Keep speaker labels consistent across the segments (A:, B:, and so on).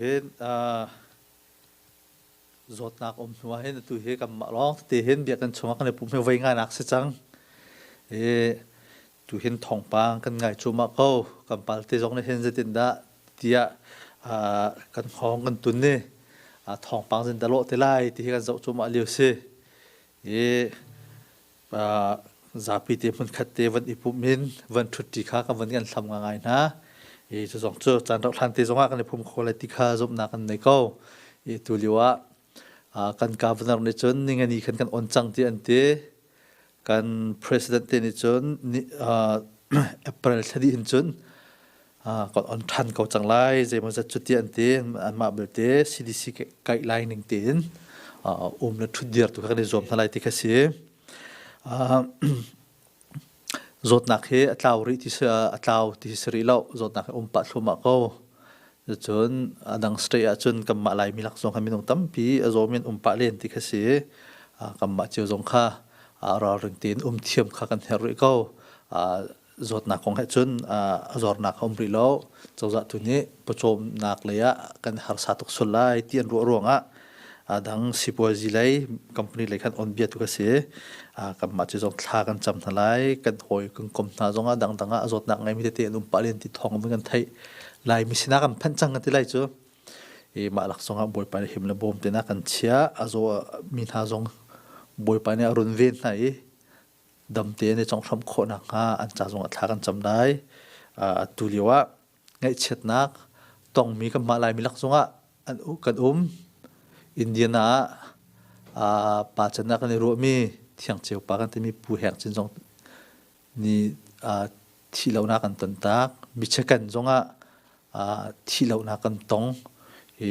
A: Hin uh, zawtnak um hnu ah hin atu hi kanmah lawng tete hin biak kan chungah kan i pumhe voi ngainak si cang. I tu hin thongpang kan ngai cuma ko kan palte zong nih hin zetin dah tiah uh, kan hong kan tun ni uh, thongpang zin da lo te lai ti hi kan zoh cuma liu si. I zapi te hmunkhat te van i pum in van ṭhutti kha ka van kan thlam nga ngai hna i cu zong cu caan rauh hlan te zongah kan i pum kho lai ti kha zumhnak an nei ko i tu lio ah kan governor nih cun ningani khan kan on cang ti an ti kan president te nih cun april thla dih in cun kan on ṭhan ko cang lai. Zeimawzat cu ti an ti. Anmah belte CDC kai lai ning tein um le ṭhut dir tu kha kan i zuam hna lai ti kha si. Zawtnak hi a tlau rih ti si, a tlau ti si rih lo. Zawtnak hi um pah thluahmah ko. Cun a dang state ahcun kanmah Laimi lak zong khan minung tampi a zawm in um pah len ti kha si. Kanmah cio zong kha ralring tein um thiam kha kan herh rih ko. zawtnak kong he cun zornak a um rih lo cozah tu nih pawcawmnak lei ah kan harsa tuk sul lai ti an ruah ruangah dang sipuazi lei company lei khan on bia tu ka si kanmah cu zong thla kan cam hna lai kan hawi kan kom hna zong ah dangdang ah zawtnak ngeimi tete an um pah len ti thawng in kan theih lai mi sinah kan phanh cang ti lai cu i mah laksong ah bawipa nih him le bawm te na kan chia a zo mi hna zong bawipa nih a run ven hna i damte an i conghhramh khawh nakhnga an ca zongah thla kan cam lai. atu lio ah ngaihchiatnak tongmi kanmah Laimi lak zongah kan um. Indiana ah pa can ah kan i ruahmi Thiangceu pa kan timi Pu Heng Cin zong nih thih lonak kan ton tak. Mi chekan zongah thih lonak kan tong i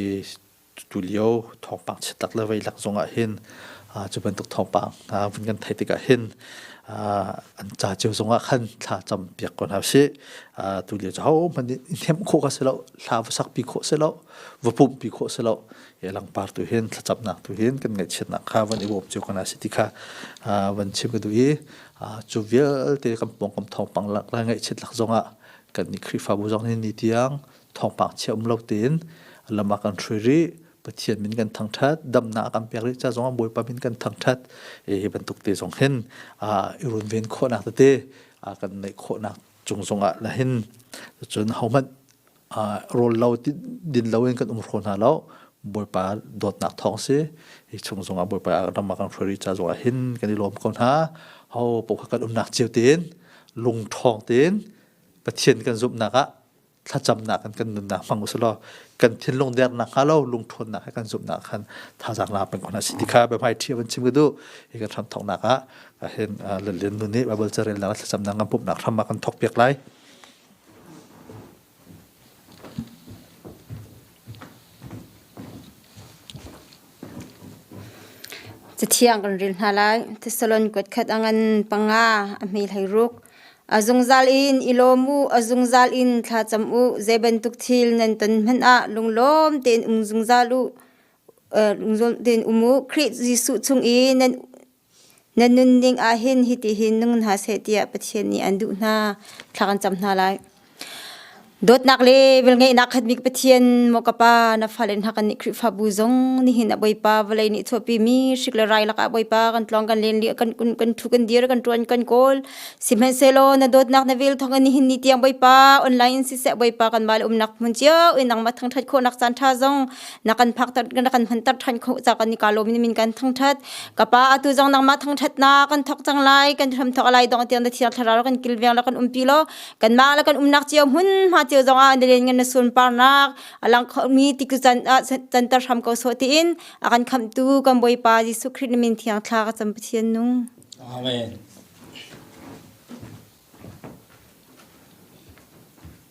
A: Tulio thawngpang chiatak le veilak zong ah hin cu bantuk thawngpang vun kan theih tikah hin an ca cio zong ah khan thla cam piak ko hna usih. Tulio cu hohmanh i hnemh khawh ka si lo, hla va sakpi khawh si lo, va pumhpi khawh si lo i langpar tu hin thlacamnak tu hin kan ngaihchiatnak kha van i bawm cio ko hna sih ti kha van chim ka duh i cu vialte kan pawngkam thawngpang lak le ngaihchiat lak zong ah kan nih Khrihfabu zong nih ni tiang thawngpang chia um lo tein lam a kan hrui rih pathian min kan thangthat damna a kan pek rih ca zong ah bawipa min kan thangthat hi bantuk te zong hin i runven khawhnak tete kan neih khawhnak cung zong ah la hin cun hohmanh rawl lo din lo in kan um hro hna lo bawipa dawtnak thawng si hi chung zong ah bawipa ram a kan hrui rih ca zong ah hin kan i lawm ko hna ho po kan umnak cio tiin lung thawng tiin
B: pathian kan zumhnak ah thlacamnak in kan nunnak hmang usih law kan thinlung dernak hnga lo lungthawnnak he kan zumhnak khan thazaang la peng ko hna si ti kha biahmai ṭhi van chim ka duh hi kan hram thawknak ah ka hin lalin nun nih Bible carel nak thlacamnak kan pumhnak hram ah kan thawk piak lai Cathiang kan ril hna lai. Thessalon kuat khat a ngan panga a hmi hleiruk. A zungzal in i lawm u, a zungzal in thlacam u. Zei bantuk thil nan ton hmanh ah lunglawm tein um zungzal u. Lunglawm tein um u. Khrih Jesuh chung i nan Na nun ding ah hin hitihin nung hna seh tiah Pathian nih an duh hna. Thla kan cam hna lai. Dawtnak le velngeihnak khatmi Pathian maw ka pa na fale hna kan nih Khrihfabu zong nihin a Bawipa vawlei nih chuahpimi hrik le rai lakah Bawipa kan tlawng kan len lih kan kan thu kan dir kan ṭuan kan kawl sihmanhsehlaw na dawtnak na vel thawngin nihin ni tiang Bawipa online in siseh Bawipa kanmah le umnak hmun cio in nangmah thangṭhat khawhnak caan ṭha zong nakan phak nakan hunter than kho cha kan nika lomi min kan thangthat kapa atu zong nangma thangthat na kan thok
C: chang lai kan hram thok lai dong tiang da thiar thlara kan kilveng la kan umpi lo kan ma la kan umnak chiao mun ma chiao zong a nelen ngan na sun par nak alang mi tiku chan chan tar hram ko so ti in akan kham tu kan boi pa jisu krit min thiang thla ka cham pathian nu amen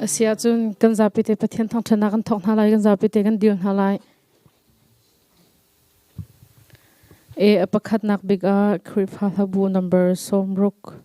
D: Asiahcun kan zapi te Pathian thawngṭhannak kan thawk hna lai, kan zapi te kan dir hna lai.
C: A pakhatnak bik ah Khrihfa hlabu number sawmruk.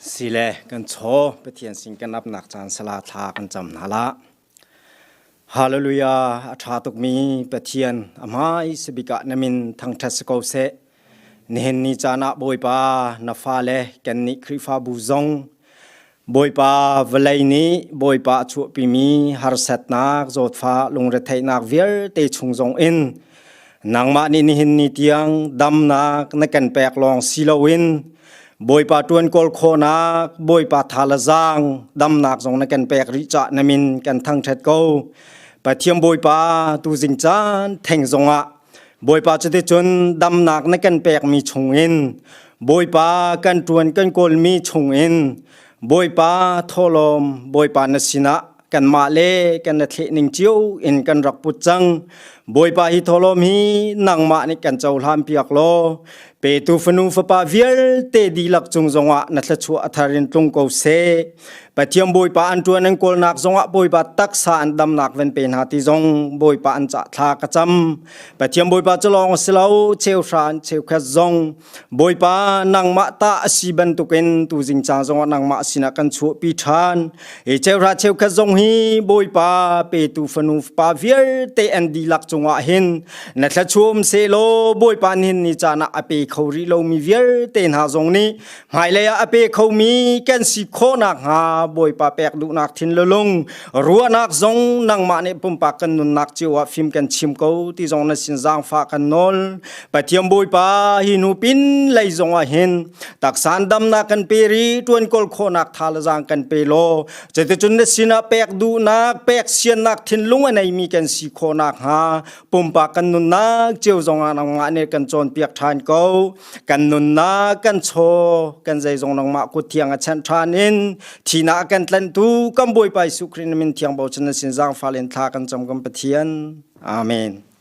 D: Sile kan chaw Pathian sin kan apnak caan sala thla kan cam hna la. Hallelujah a ṭha tukmi Pathian a hmai sabikah namin thangṭhat si ko seh. Nihin ni caan ah Bawipa na fale kan nih Khrihfabu zong Bawipa vawlei nih Bawipa a chuahpimi harsatnak zawtfah lungretheihnak vialte chung zong in nangmah nih nihin ni tiang damnak na kan pek lawng si loin Bawipa ṭuan kawl khawhnak Bawipa thalazang damnak zong na kan pek rih cah namin kan thangṭhat ko Pathian Bawipa tu zing caan theng zongah Bawipa cuticun damnak na kan pekmi chungin Bawipa kan ṭuan kan kawlmi chungin Bawipa thawlawm Bawipa na sinah kanmah le kan na thleh ning cio in kan rak put cang. Bawipa hi thawlawm hi nangmah nih kan cohlan piak law Petu fanu fapa vialte dihlak cung zongah na thluachuah a thar in tlung ko seh. Pathian Bawipa an ṭuan an kawlnak zongah Bawipa taksa an damnak van pe hna ti zong Bawipa an cah thla ka cam. Pathian Bawipa cu lawng a si lo, cheu hra an cheu khat zong Bawipa nangmah ta a si bantukin tu zingcang zongah nangmah sinah kan chuahpi ṭhan. e cheuhra cheukhat zong hi bawipa petu fanu pa vialte an dilak cungah hin na thlachuam se law bawipa nin ni caan ah a pe kho rih lomi vialte hna zong nih hmailei ah a pe khomi kan si khawhnak hnga bawipa pek duhnak thin lulung ruahnak zong nangmah nih pumpak kan nunnak cio ah fim kan chim ko ti zong na sin zaangfa kan nawl Pathiam Bawipa hi nu pin lei zongah hin taksan damnak kan pe ri tuan kol khawnak tha la zang kan pe lo cuticun na sinah pek duhnak pek siannak thinlung a neimi kan si khawnak hnga pumpak kan nunnak ceu zongah nangmah ne kan cawnpiak ṭhan ko kan nunnak kan chaw kan zei zong nangmah kut thiang a chanh ṭhan in thina kan tlantu kan Bawipa Jesuh Christ min thiang bochan na sin zang fa len thla kan cam kan Pathian amen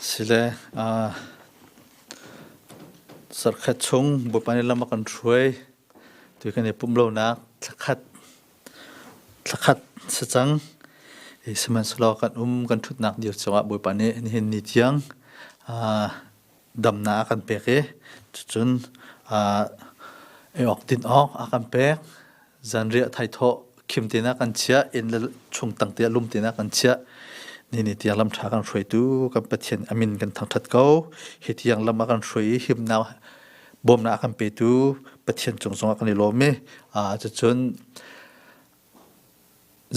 A: Sile zarhkhat chung Bawipa nih lam a kan hruai. Tu kan i pumh lonak thlakhat, thlakhat si cang. Sihmanhsehlaw kan um kan ṭhutnak dir cungah Bawipa nih nihin ni tiang damnak a kan pek i cucun ei awk din awk a kan pek. Zanriah thaithawh khim tinak kan chiah, inn le chung tang tiah lum tinak kan chiah. Nini tiang lam ṭha kan hruaitu kan Pathian a min kan thangṭhat ko. Hi tiang lam a kan hruai i himnak, bawmnak a kan petu Pathian cung zongah kan i lawm i cucun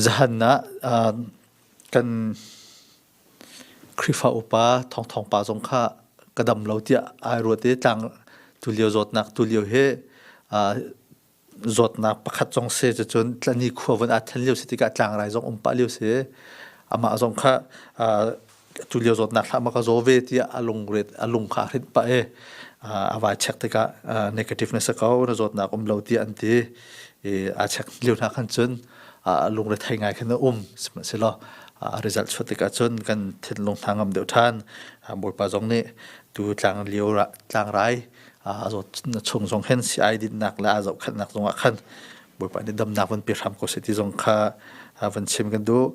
A: zahan ah kan Khrihfa upa thawngthawng pa zong kha ka dam lo tiah ai ruat i tlang tulio zawtnak tulio hi aa zawtnak pakhat zong si cucun tlani khua vun aa then lio si tikah tlangrai zong um pah lio si i amah zong kha aa tulio zawtnak hlah ma ka zaw ve tiah a lungret a lung kha a hrinh pah i aa vai check tikah aa negativeness a ko na zawtnak um lo tiah an ti i aa check lio hna khan cun lungrethei thei ngai khan a um sihmanhsehlaw result chuah tikah cun kan thinlung hna ngam deuh ṭhan bawipa zong nih tu tlang lio tlangrai a zawt chung zong hin si ai dinnak le aa zohkhanhnak zongah khan bawipa nih damnak van pe hram ko seh ti zong kha van chim kan duh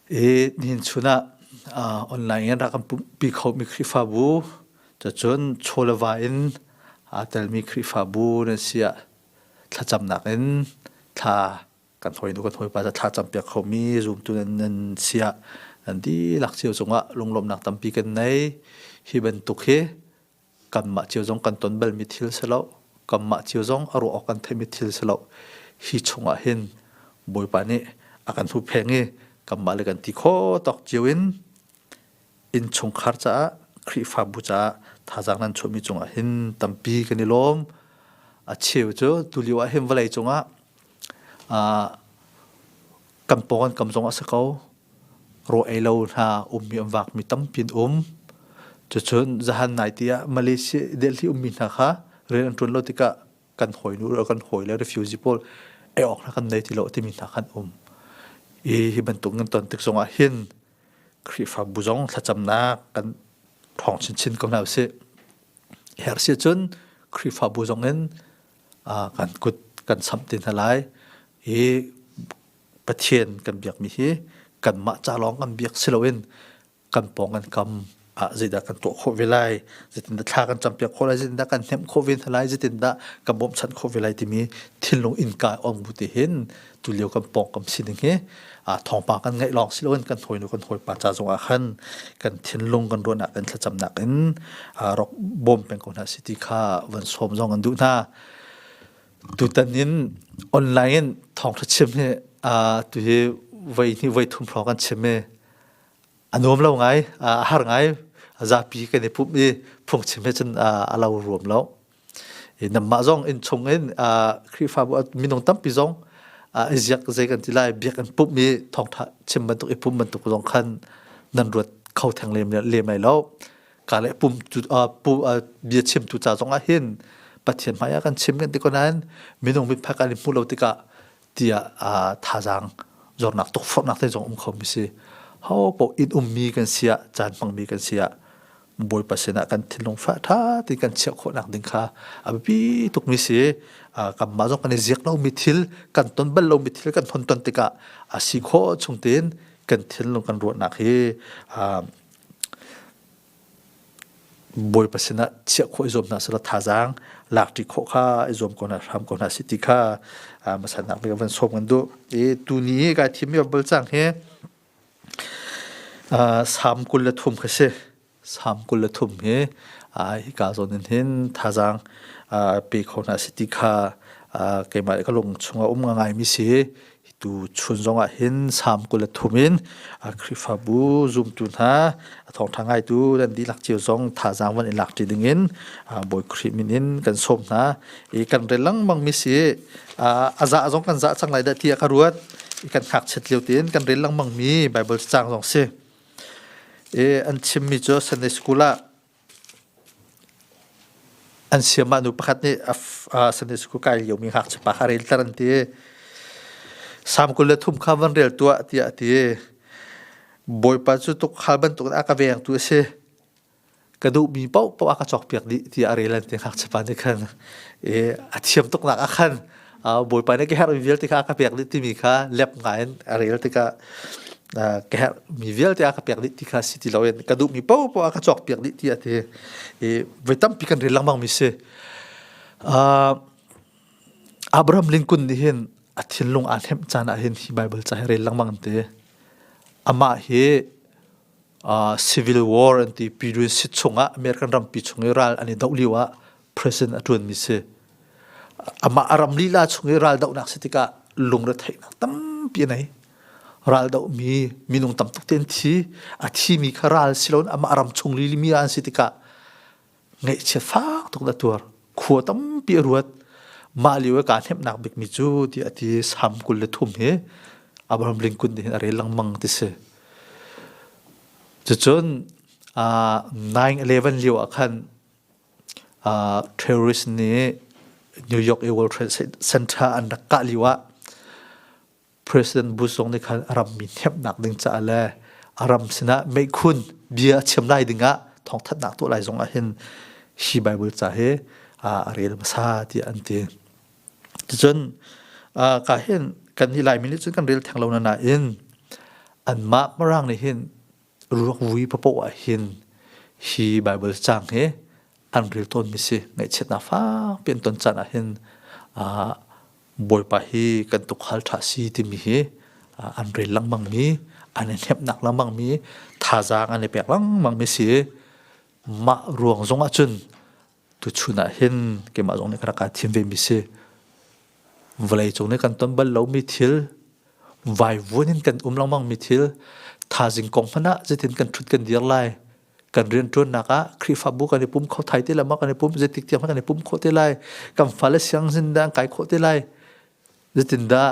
A: i nihin chun ah online in rak kan pumpi khomi khrihfabu cacun chawleva in aa telmi khrihfabu na si ah thlacamnak in thla kan hawi nu kan hawipa cu thla campiak khomi zumtu nan nan sia nan dihlak cio cungah lunglawmnak tampi kan nei hi bantuk hi kanmah cio zong kan ton balmi thil si lo kanmah cio zong a ruah awk kan theihmi thil si lo hi chungah hin bawipa nih a kan hupheng i kanmah le kan ti khaw tawk cio in Innchungkhar caah, Khrihfabu caah thazaang nan chuahmi cungah hin tampi kan i lawm. A cheu cu tulio ah hin vawlei cungah kan pawng an kam zong a si ko. Ruah ei lo hna ummi an vaakmi tampi an um. Cucun zahan naite ah Malaysia i Delhi ummi hna kha rian an ṭuan lo tikah kan hawinu le kan hawile refugee pawl ei awk hna kan nei ti lo timi hna kha an um. Hi bantuk nan ton tik zongah hin Khrihfabu zong thlacamnak kan hrawng chinchin ko hna usih. Herh si cun Khrihfabu zong in kan kut kan samh te hna lai i Pathian kan biakmi hi kanmah ca lawng kan biak si loin kan pawng an kam ah zeidah kan tuah khawh ve lai zeitindah thla kan cam piak khawh lai zeitindah kan hnemh khawh ve hna lai zeitindah kan bawmchanh khawh ve lai timi thinlung innka ong bu te hin tulio kan pawng kam sining hi thawngpa kan ngaih lawng si loin kan hawinu kan hawipa ca zongah khan kan thinlung kan ruahnak in thlacamnak in rak bawm peng ko hna si ti kha van sawm zong an duh hna tutan in online in thawngtha chim hi tuhi voi hnih voi thum hrawng kan chim i a nuam lo ngai a har ngai zapi kan i pumh i phungchim he cun a lo ruam lo namah zong inn chung in khrihfabu minung tampi zong i ziak zei kan ti lai biak an pumh i thawngtha chim bantuk i pumh bantuk zong khan nan ruat kho theng lem ai lo ka le pum tu bia chim tu ca zong ah hin pathian hmai ah kan chim kan ti ko nain minung mit phak an i hmu lo tikah tiah uh, thazaang zornak tukforhnak te zong um khomi si ho po in ummi kan siah caan hmangmi kan siah bawipa sinah kan thinlung fa tha ti kan chiah khawhnak ding kha a biapi tukmi si kan mah zong kan i ziak lomi thil kan ton bal lomi thil kan hon ton tikah a si khawh chung tin kan thinlung kan ruahnak hi Bawipa sinah chiah khawh i zuam hna selaw thazaang lakṭi khawh kha i zuam ko hna, hram ko hna sih ti kha hmasannak veka van sawm kan duh. I tuni i kai thimmi bal cang hi Salm kul le thum kha si. Salm kul le thum hi hika zawn in hin thazaang pe kho hna sih ti kha keimah le ka lung chungah um ngaimi si. Hitu chun zongah hin Sam kul le thum in Khrihfabu zumtu hna thawngṭha ngaitu nan dihlak cio zong thazaang van i lak ṭi dingin Bawi Khrih min in kan sawm hna. I kan rel lengmangmi si a zah zong kan zah cang lai dah tiah ka ruat. I kan ngakchiat lio tiin kan rel lengmangmi Baibal cacang zong si. I an chimmi cu Sunday School ah An siam ah nu pakhat nih a Sunday school kai liomi ngakchiapa kha relter an ti. Sam kul le thum kha van rel tuah tiah a ti. Bawipa cu tukhal bantukin a ka vengtu a si. Ka duhmi paohpaoh a ka cawkpiak dih tiah a rel an ti ngakchiapa nih khan. I a thiam tuknak ah khan bawipa nih ka herhmi vialte kha a ka pek dih timi kha lep ngai in a rel tikah ka herhmi vialte a ka pek dih ti kha si ti loin ka duhmi paohpaoh a ka cawkpiak dih ti a ti i voi tampi kan rel lengmang mi si Abraham Lincoln nih hin a thinlung aa hnemh caan ah hin hi Bible ca hi rel lengmang an ti amah hi civil war an ti period si chungah American rampi chung i ral an i doh lio ah president a ṭuanmi si. Amah a ram lila chung i ral dohnak si tikah lungretheihnak tampi a nei. Ral dohmi minung tam tuk te an thi. A thimi kha ral si loin amah ram chung lilimi ah an si tikah ngeihchiat fak tuk a tuar khua tampi a ruat mah lio i kaa hnemhnak bikmi cu tiah a ti sam kul le thum hi Abraham Lincoln nih hin a rel lengmang ti si cucun uh, 9-11 lio ah khan uh, terrorist nih New York World Trade Center an rak kah lio ah President Bush zong nih khan a rammi hnemhnak ding caah le a ram sinah meikun bia a chiam lai dingah thawngthanhnak tuah lai zong ah hin hi Bible ca hi a rel hmasa tiah an ti. Ticun ka hin kan hi Laimi nih cun kan rel theng lo na nain anmah marang nih hin ruak vui papoh ah hin hi Bible cang hi an ril tawnmi si. Ngaihchiatnak fakpi an ton caan ahhin uh, Bawipa hi kan tukhal ṭha si timi hi uh, an ril lengmangmi, an i hnemnak lengmangmi, thazaang an i pek lengmangmi si. Mah ruang zong ahcun tuchun ahhin keimah zong nih ka rak thim vemi si. Vawlei cung nih kan ton bal lomi thil, vaivuan in kan um lengmangmi thil, thazing kong hmanh ah zetin kan ṭhut kan dir lai, kan riantuannak ah Khrihfabu kan i pum kho thai te lama kan i pum zetik tiang kan i pum khawh te lai kan fale siang sin da kai khawh te lai zetin da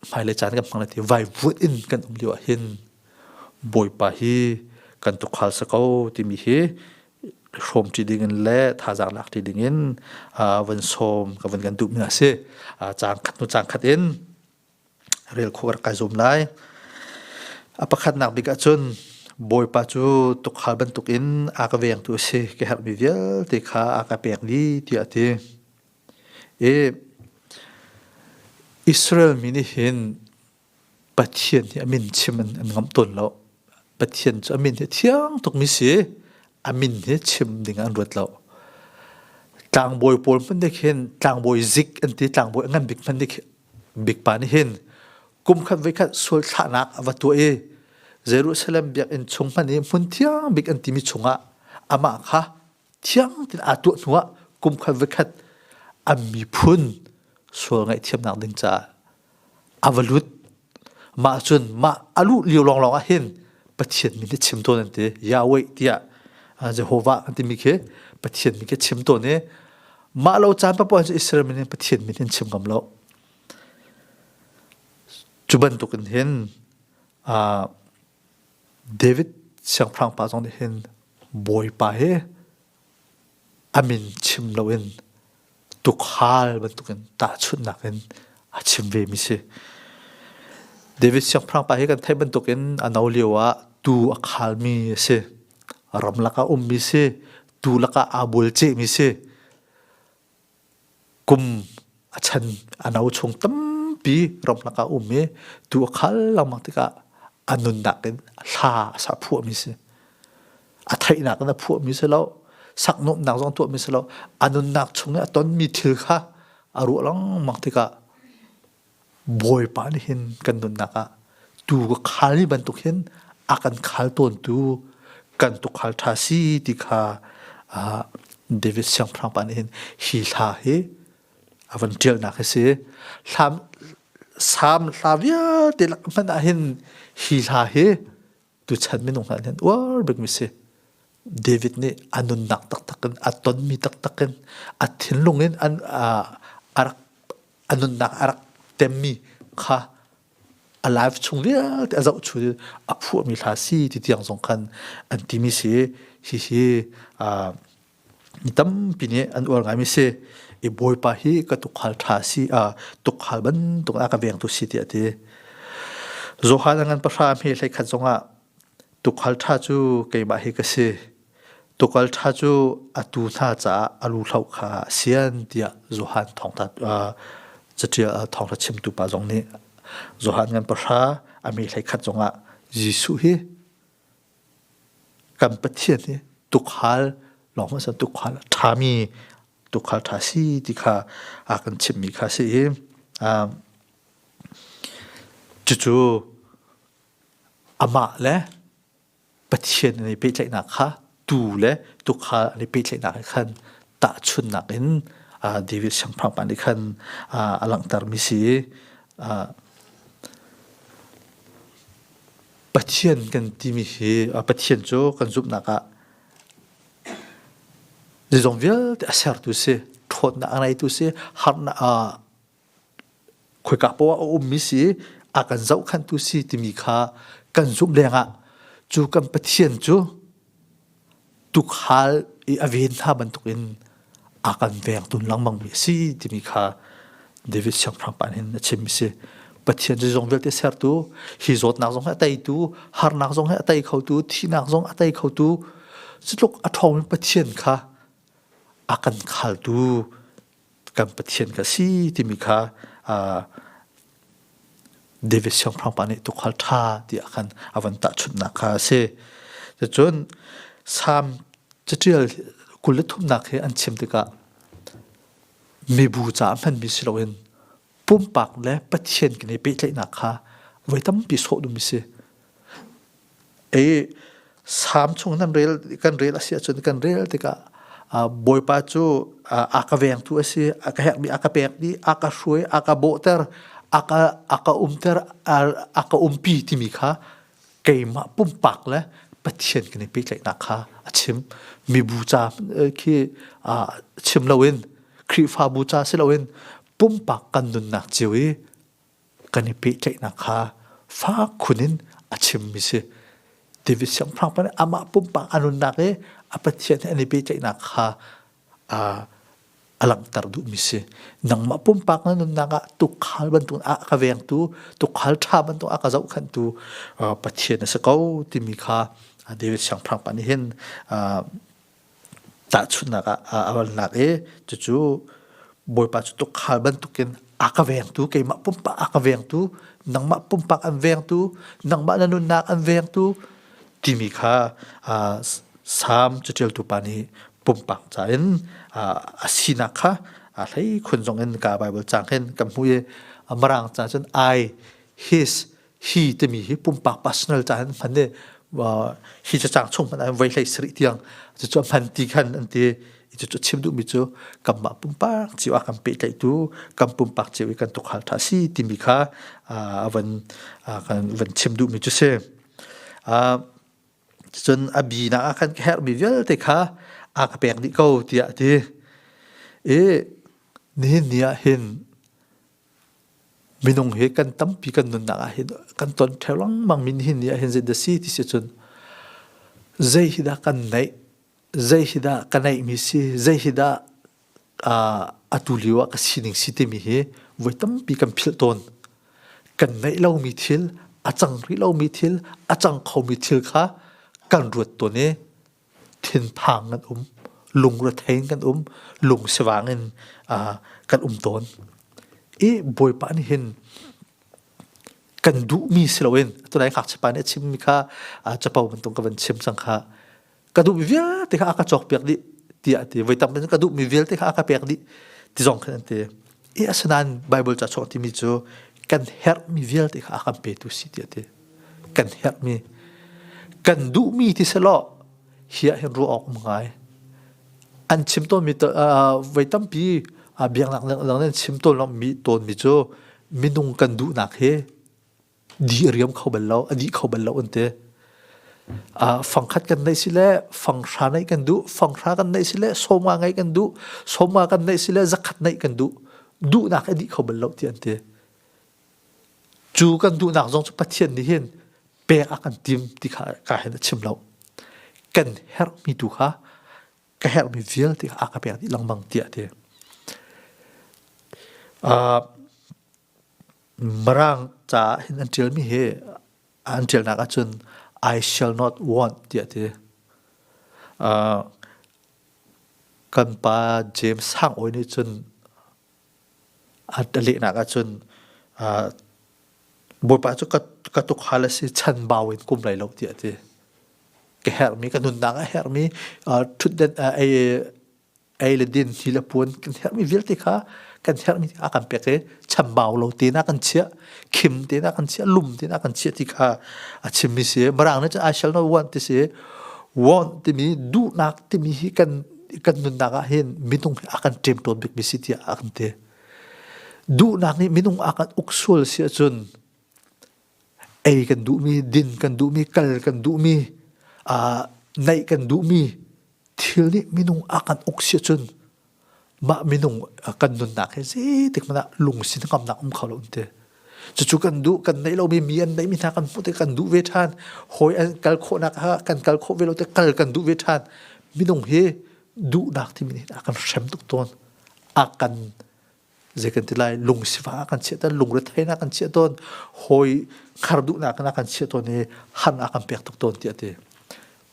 A: hmaile caan kan hmang ti vai vuat in kan um lio ah hin bawipa hi kan tu khal sa ko timi hi hrom ti ding in le thazang lak ti ding in van som ka van kan duh mi a si cang khat nu cang khat in rel khawh rak kai zuam lai. A pakhatnak bik ahcun Bawipa cu tukhal bantuk in a ka vengtu a si ka herhmi vialte kha a ka pek ni tiah a ti. I Israel mi nih hin Pathian hi a min chim in an ngam tawn lo. Pathian cu a min hi thiang tukmi si a min hi chim ding an ruat lo. Tlangbawi pawl hmanh nih khin tlangbawi zik an ti, tlangbawi a ngan bik hmanh nih Bik pa nih hin kum khat voi khat sual thlahnak a va tuah i Jerusalem biakinn chung hman i hmun thiang bik an timi chungah amah kha thiang tein aa tuah hnuah kum khat voi khat an miphun sual ngaihthiamnak ding caah a va lut. Mah cun mah a luh lio lawnglawng ah hin Pathian min hi chim tawn an ti. Yahweh tiah Jehovah an timi khi Pathian min khi chim tawn i Mah lo caan papuan cu Israel min in Pathian min hin chim ngam lo. Cu bantuk in hin uh, David siangpahrang pa zong nih hin bawipa hi amin chim lo in tukhal bantuk in tahchunhnak in a chim ve mi si. David siangpahrang pa hi kan theih bantuk in a no lio ah tuu a khal mi a si. Ram lak a um mi si. tu lakah aa bulcehmi si kum a chan a no chung tampi ram lakah um i tu a khal lengmang tikah a nunnak in hla a sa phuahmi si a theihnak in a phuahmi si lo saknawmnak zong tuahmi si lo a nunnak chung i a tonmi thil kha a ruah lengmang tikah Bawipa nih hin kan nunnak ah tuu ka khal ni bantuk hin a kan khal tawntu kan tukhal ṭha si ti kha David siangpahrang pa nih hin hi hla hi a van ṭialnak hi si. Hlam, salm hla vialte lak hmanh ah hin hi hla hi tuchan minung hna nih uar bikmi si David nih a nunnak taktak in a tonmi taktak in a thinlung in an a rak a nunnak a rak temmi kha a life chung vialte a zohchun in a phuahmi hla si ti tiang zong khan an timi si hihi mi tampi nih an uar ngaimi si i bawipa hi ka tukhal ṭha si a tukhal bantuk ah ka veng tu si tiah a ti Johan a ngan pahrang hi hlei khat zongah tukhal ṭha cu keimah hi ka si tukal ṭha cu atu hna caah a lu hlo kha a sian tiah Johan thawngtha catial thawngtha chimtu pa zong nih Johan ngan pahra a mi hlei khat zongah Jesuh hi kan pathian hi tukhal lawng hmasa tukhal a ṭhami tukhal ṭha si ti kha a kan chimmi kha si i cucu amah le pathian an i pehtlaihnak kha tuu le tukhal an i pehtlaihnak he khan tahchunnak in David siangpahrang pa nih khan a langhtermi si i Pathian kan timi hi Pathian cu kan zumhnak ah zeizong vialte a sertu si ṭhawnnak a ngeitu si harnak a khoika poah a ummi si a kan zohkhantu si timi kha kan zumh lengah cu kan Pathian cu tukhal i a ven hna bantukin a kan vengtun lengmang mi a si timi kha David siangpahrang pa nih a chim mi si. Pathian cu zong vialte sertu, hi zawtnak zong he a teitu, harnak zong he a tei khotu, thihnak zong a tei khotu, cu tluk a ṭhawng in Pathian kha a kan khaltu kan pathian ka si timi kha David siangpahrang pa nih tukhal ṭha tiah khan a van tahchunhnak kha a si. Cun Salm caṭial kul le thumnak hi an chim tikah mibu caah hmanmi si loin pumpak le pathian kan i pehtlaihnak kha voi tampi sawh dum si ei sam chung nan rel kan rel asi ahcun kan rel tikah bawipa cu a ka vengtu asi a ka hekmi a ka pekmi a ka hruai a ka bawhter a ka a ka umter a ka umpi timi kha keimah pumpak le pathian kan i pehtlaihnak kha a chim mi bu ca khi chim loin Khrihfabu ca si loin pumpak kan nunnak cio i kan i pehtlaihnak kha fak khun in a chimmi si David siangpahrang pa nih amah pumpak a nunnak i a pathian he an i pehtlaihnak kha a langhter duhmi si nangmah pumpak na nunnak ah tukhal bantuk a ka vengtu tukhal ṭha bantuk a ka zohkhanhtu pathian na si ko timi kha David siangpahrang pa nih hin Tahchunhnak ah a van lak i cucu Bawipa cu tukhal bantukin a ka vengtu keimah pumpak a ka vengtu nangmah pumpak an vengtu nangmah na nunnak an vengtu timi kha Salm caṭialtu pa nih pumpak ca in a sinak kha a hlei khun zongin ka Baibal caang hin kan hmuh i Mirang ca cun I His hi timi hi pumpak personal ca an hman i hi cacang chung hmanh an voi hlei sarih tiang cucu a hman ti khan an ti cucu chim duhmi cu kanmah pumpak cio ah kan pehtlaihtu kan pumpak cio i kan tukhal ṭha si timi kha a van kan van chim duhmi cu si cun a binak ah kan ka herhmi vialte kha a ka pek dih ko tiah a ti i nihin ni ah hin Minung hi kan tampi kan nunnak ahhin kan ton theo lengmang mi nihin ni ahhin zeidah si ti si cun zei hi dah kan neih, zei hi dah ka neih mi si, zei hi dah atu lio ah ka sining si timi hi voi tampi kan philh tawn. Kan neih lomi thil, a cang rih lomi thil, a cang khomi thil kha kan ruat tawn i thinphang kan um, lungrethei in kan um, lung sivang in uh, kan um tawn. I Bawipa nih hin kan duhmi si loin tunai ngakchapa nih a chimmi kha capo bantuk ka van chim cang kha ka duhmi vialte kha aka cawk piak dih tiah a ti voi tampi ka duhmi vialte kha aka pek dih ti zong khan an ti i asinain Baibal ca sawh timi cu kan herhmi vialte kha a kan petu si ti a ti kan herhmi kan duhmi ti selaw hi ah hin ruah awk um ngai an chim tawnmi voi tampi biaknak lenglen chim tawn mi tawnmi cu minung kan duhnak hi Di a riam kho bal lo, a dih kho bal lo an ti. Uh, fangkhat kan neih si le fanghra neih kan duh, fanghra kan neih si le sawma ngeih kan duh, sawma kan neih si le zakhat neih kan duh, duhnak a dih kho bal lo ti an ti. Cu kan duhnak zong cu Pathian nih hin pek a kan tim ti kha ka hin a chim lo. Kan herhmi tu kha ka herhmi vialte kha a ka pek dih lengmang tiah ti. Uh, Mirang caah hin an ṭialmi hi an ṭialnak ahcun I shall not want tiah a ti. Kan pa James Sang Awi nih cun a lehnak ahcun Bawipa cu ka tukhal a si chan bau in kum lai lo tiah a ti. Ka herhmi, ka nunnak a herhmi ṭhutdenh ei le din hi le puan kan herhmi vialte kha kan herhmi a kan pek i chambau lo tein a kan chiah khim tein a kan chiah lum tein a kan chiah ti kha a chimmi si mirang nih I shall not want ti si want timi duhnak timi hi kan kan nunnak ah hin minung hi a kan ṭem tawn bikmi si tiah a kan ti duhnak nih minung a kan uk sual si ahcun ei kan duhmi, din kan duhmi, kal kan duhmi, aa naih kan duhmi thil nih minung a kan uk si ahcun mah minung kan nunnak hi zeitik hmanh ah lungsi hnangamnak um kho lo an ti. Cucu kan duh, kan neih lomi mi an neihmi hna kan hmuh ti kan duh ve ṭhan. Hawi an kal khawhnak kha kan kal khawh ve lo ti kal kan duh ve ṭhan. Minung hi duhnak timi nih a kan hrem tuk tawn. A kan zei kan ti lai lung sifah kan chiah tawn lung retheinak kan chiah tawn hawi khar duhnak na kan chiah tawn i han a kan pek tuk tawn tiah ti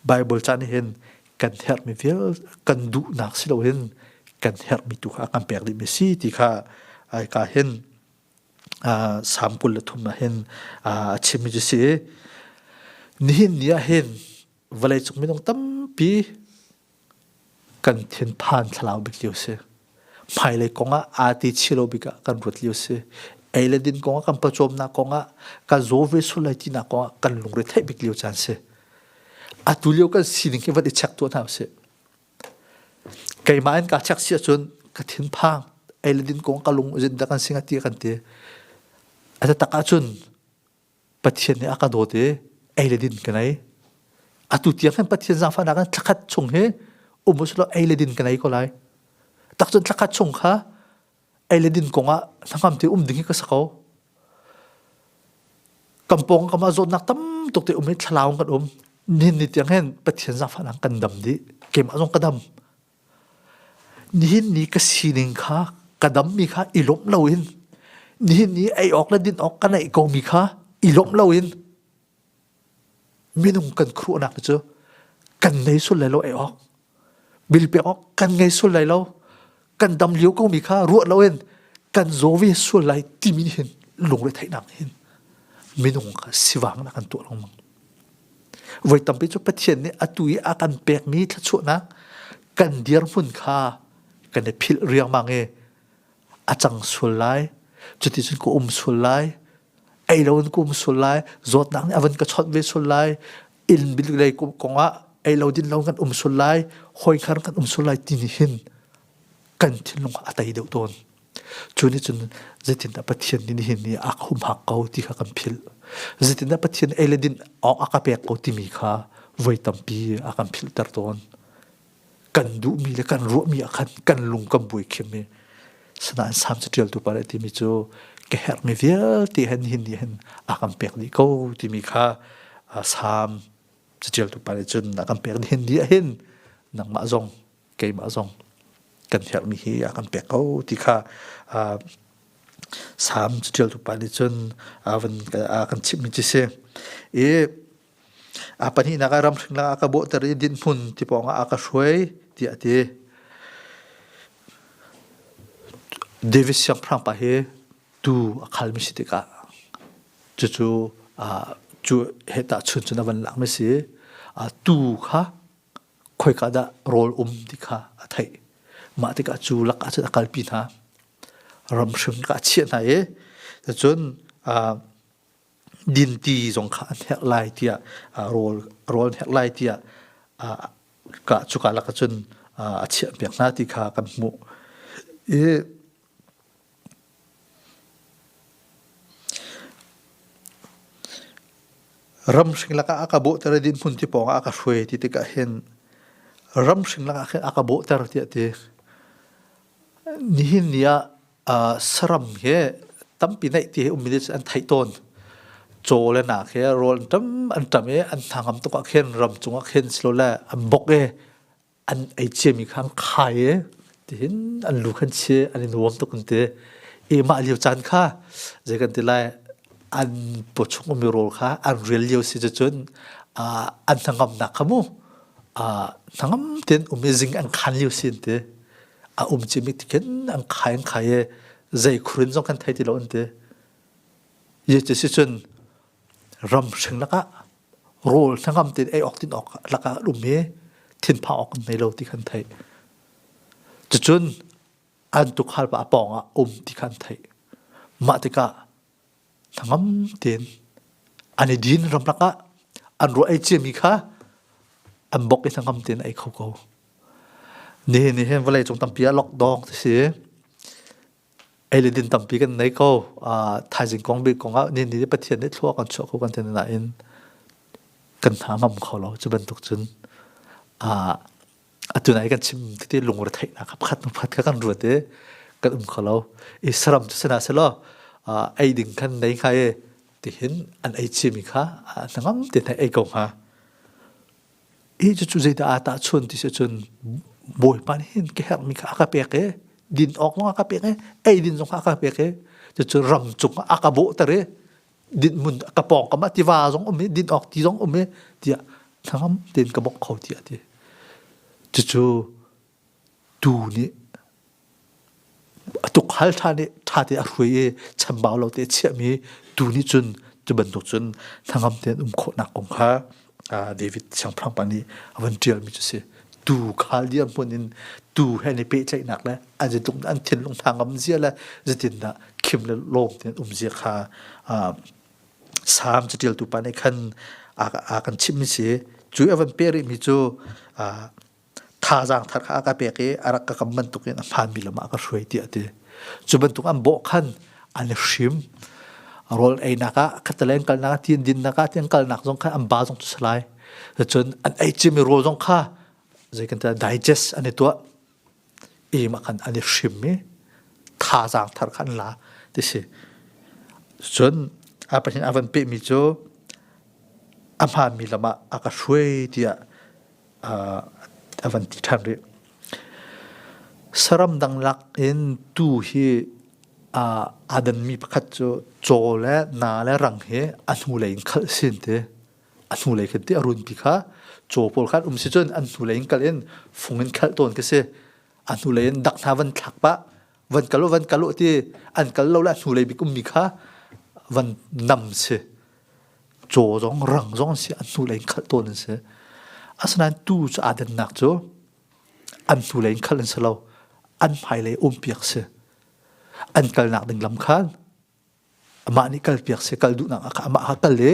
A: Bible caan hin kan herhmi vial kan duhnak si lo hin kan herhmi tu kha kan pek dihmi si ti kha ai ka hin sam kul le thum na hin a chimmi cu si nihin ni ah hin vawlei cung minung tampi kan tinthan thlalau bik lio si hmailei kong ah aa ti chih lo bik ah kan ruat lio si ei le din kong ah kan pawcawmnak kong ah kan zaw ve sul lai tinak kong ah kan lungre theih bik lio caan si atu lio kan sining hi vat i check tuah hna usih keimah in kaa check si ahcun ka thinphang ei le din kong ka lung zin da kan singa ti kan ti a tatak ahcun Pathian nih a ka dawt i ei le din ka nei. Atu tiang khan Pathian zangfahnak in thlakhat chung hi um usulaw ei le din ka nei ko lai. Tak cun thlakhat chung kha ei le din kongah hnangam te um ding hi ka sa ko. Kampong kam ah zawtnak tam tuk te um hi thlalau kan um. Nihin ni tiang hen Pathian zangfahnak kan dam dih. Keimah zong ka dam. Nihin ni ka sining kha ka dammi kha i lawmh loin nihin ni ei awk le din awk kan ei komi kha i lawmh loin minung kan khuhnak cu kan ngei sul lai lo ei awk bil pek awk kan ngei sul lai lo kan dam lio komi kha ruah loin kan zaw ve sul lai timi hin lungretheihnak hin minung kha sivang nak an tuah lengmang Voi tampi cu Pathian nih atu i a kan pekmi thluachuahnak kan dirhmun kha kan i philh riangmang i a cang sual lai. Cuti cun ka um sual lai. Ei lo in ka um sual lai. Zawtnak nih a van ka chawnh ve sual lai. Inn bilulei kongah ei lo din lo kan um sual lai. Hawi khan kan um sual lai ti nih hin kan thinlung a tei deuh tawn. Cu nih cun zeitindah Pathian nih nihin ni a humhak ko ti kha kan philh. Zeitindah Pathian ei le din awk a ka pek ko timi kha voi tampi a kan philhter tawn. Kan duhmi le kan ruahmi ah khan kan lung kan buai khim i sinain Salm caṭialtu pa le timi cu ka herhmi vialte hen nihin ni hen a kan pek dih ko timi kha Salm caṭialtu pa nih cun a kan pek nihin ni ah hin nangmah zong keimah zong kan herhmi hi a kan pek ko ti kha uh, Salm cutial tupa nih cun a kan chimhmi ci si i a pahnih nak ram hring la ka bohter i din hmun ti pawng a ka hruai ti a ti David siangpahrang pa hi tu a khalmi si tikah cucu cu heta chun cun a van lakmi si tu kha khoika dah rawl um ti kha a theih. Mah tikah cu lakah cun a kalpi hna. Ram hrim kha a chiah hna i cun dinti zong kha an hek lai tiah rawl rawl an hek lai tiah cuka lakah cun a chiahpiak hna ti kha kan hmuh. I Ramhring lakah a ka bawhter i dinhmun ti pawngah a ka hruai ti tikah hin ramhring lakah khin a ka bawhter tiah ti. Nihin ni ah uh, saram hi tampi neih ti hi ummi an theih tawn. Caw le nak hi rawl an tam an tam i an hnangam tukah khin ram cungah khin silole an bok i an ei ciami kha an khai i tihin an lu khan chi an in huam tuk an ti i mah lio caan kha zei kan ti lai an pawchung ummi rawl kha an rel lio si cun an hnangamnak kha mu hnangam tein um i zing an khan lio si an ti a um cimi tikhin an khai an khai i zei khurin zong kan thei ti lo an ti ye ti si cun ramhring lakah rawl hnangam tein ei awk tin awk lakah an um i thinphang awk an nei lo ti kha an theih. Cucun an tukhal pa a pawng ah um ti kha an theih. Mah tikah hnangam tein an i din ram lakah an ruah ei ciami kha an bok i hnangam tein ei kho ko. Nihin nih hin vawleicung tampi ah lockdown a si i ei le din tampi kan nei ko. Uh, thaizing kong bik kong ah nihin ni Pathian nih thlua kan chuah kho kan tin nain kan hna ngam kho lo. Cu bantuk cun uh, atu nai kan chim titi lungretheihnak kha pakhat pakhat kha kan ruat i kan um kho lo. I saram cu sena selo uh, ei ding kan nei hnga i tihin an ei chimi kha uh, nangam te thai ei ko hnga. i cucu zeidah aa tahchuan ti si cun bawipa nih hin ka herhmi kha a ka pek i din awk zong a ka pek i eidin zong kha a ka pek i cucu ram cungah a ka bawhter i dinhmun ka pawngkam ah tiva zong um i din awk ti zong um i tiah hnangam tein ka bawmh kho tiah a ti cucu tu nih a tukhal ṭhan i ṭhate a hruai i chambau lo te a chiahmi tu nih cun cu bantuk cun hnangam tein um khawhnak kong kha David siangpahrang pa nih a van ṭialmi cu a si. Tu khal dirhmun in tuu he an i pehtlaihnak le an itlung an thinlung hnangam zia le zeitindah khim le lawm tein um zia kha Salm caṭialtu pa nih khan a kan chimhmi a si. Cu i a van peh rihmi cu thazaang thar kha a ka pek i a rak ka kam bantuk in a hmaanmi lam ah a ka hruai tiah a ti. Cu bantuk an bawh khan an i hrim. Rawl einak ah, khataleng kalnak ah, tin dinnak ah, tin kalnak zong kha an ba zong cu si lai. Cun an ei cim i rawl zong kha zei kan tiah digest an i tuah. Im ah khan an i hrim i thazaang thar kha an la ti si. Cun a pathin a van pehmi cu a hmaanmi lam ah a ka hruai tiah a van ti ṭhan rih. Saram dang lak in tuu hi aa danmi pakhat cu caw le naa le rang hi a hnulei in khalh sin ti. A hnulei khin ti a runpi kha caw pawl khan um si cun an hnulei in kalh in fung in khalh tawn khi si. A hnulei in dak hna van thlak pah. van kal van kal ti an kal lo la hnulei bikum mi kha van nam si chaw zong rang zong si an hnulei in khalh tawn an si asinain tu cu adannak cu an hnulei in khalh an si lo an hmailei umpiak si an kalnak ding lam khan Amah nih kalpiak si kal duhnak amah ha kal i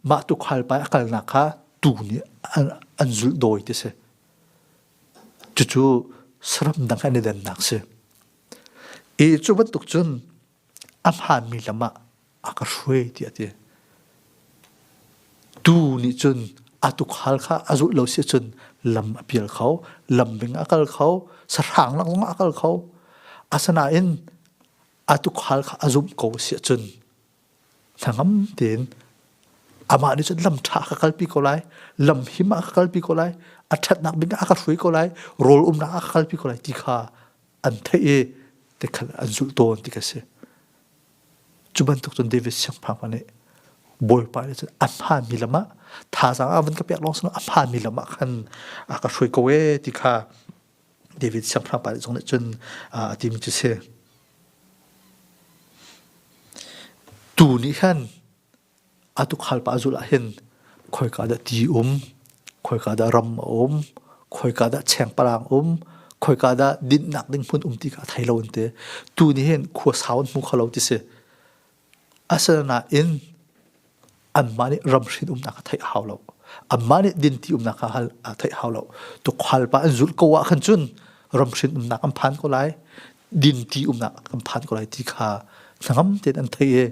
A: mah tu khalpai a kalnak kha tu nih an zulh dawi ti si. Cucu saram dang an i dennak si. E cu bantuk cun a hmaanmi lam ah a ka hruai ti a ti. Tu nih cun a tukhal kha a zulh lo si cun lam a pial kho, lam bing a kal kho, sahrang langlong a kal kho. Asanain a tukhal kha a zumh ko si cun na ngam tein amah nih cun lam ṭha ka kalpi ko lai lam him ah ka kalpi ko lai a ṭhatnak ding ah ka hruai ko lai rawl umnak ah ka kalpi ko lai ti kha an theih i tikhal an zulh tawn ti ka si cu bantuk cun David siangpahrang nih Bawipa nih cun a hmaami lam ah thazaang ah van ka pek lawng sinu a hmaami lam ah khan a ka hruai ko ee ti kha David siangpahrangpa nih cun a timi cu si. Tu nih khan a tukhal pa zulh ah hin khoika dah ti um, khoika dah ram a um, khoika dah chengpalang um, khoika dah dinhnak ding hmun um ti kha a thei lo an ti. Tu nih hin khua sau an hmu kho lo ti si. A sal nain anmah nih ramhrin umnak kha theih a hau lo. Anmah nih dinti umnak kha hal a theih hau lo. Tukhualpa an zulh ko ah khan cun ramhrin umnak an phan ko lai, dinti umnak kan phan ko lai ti kha hnangam tein an thei i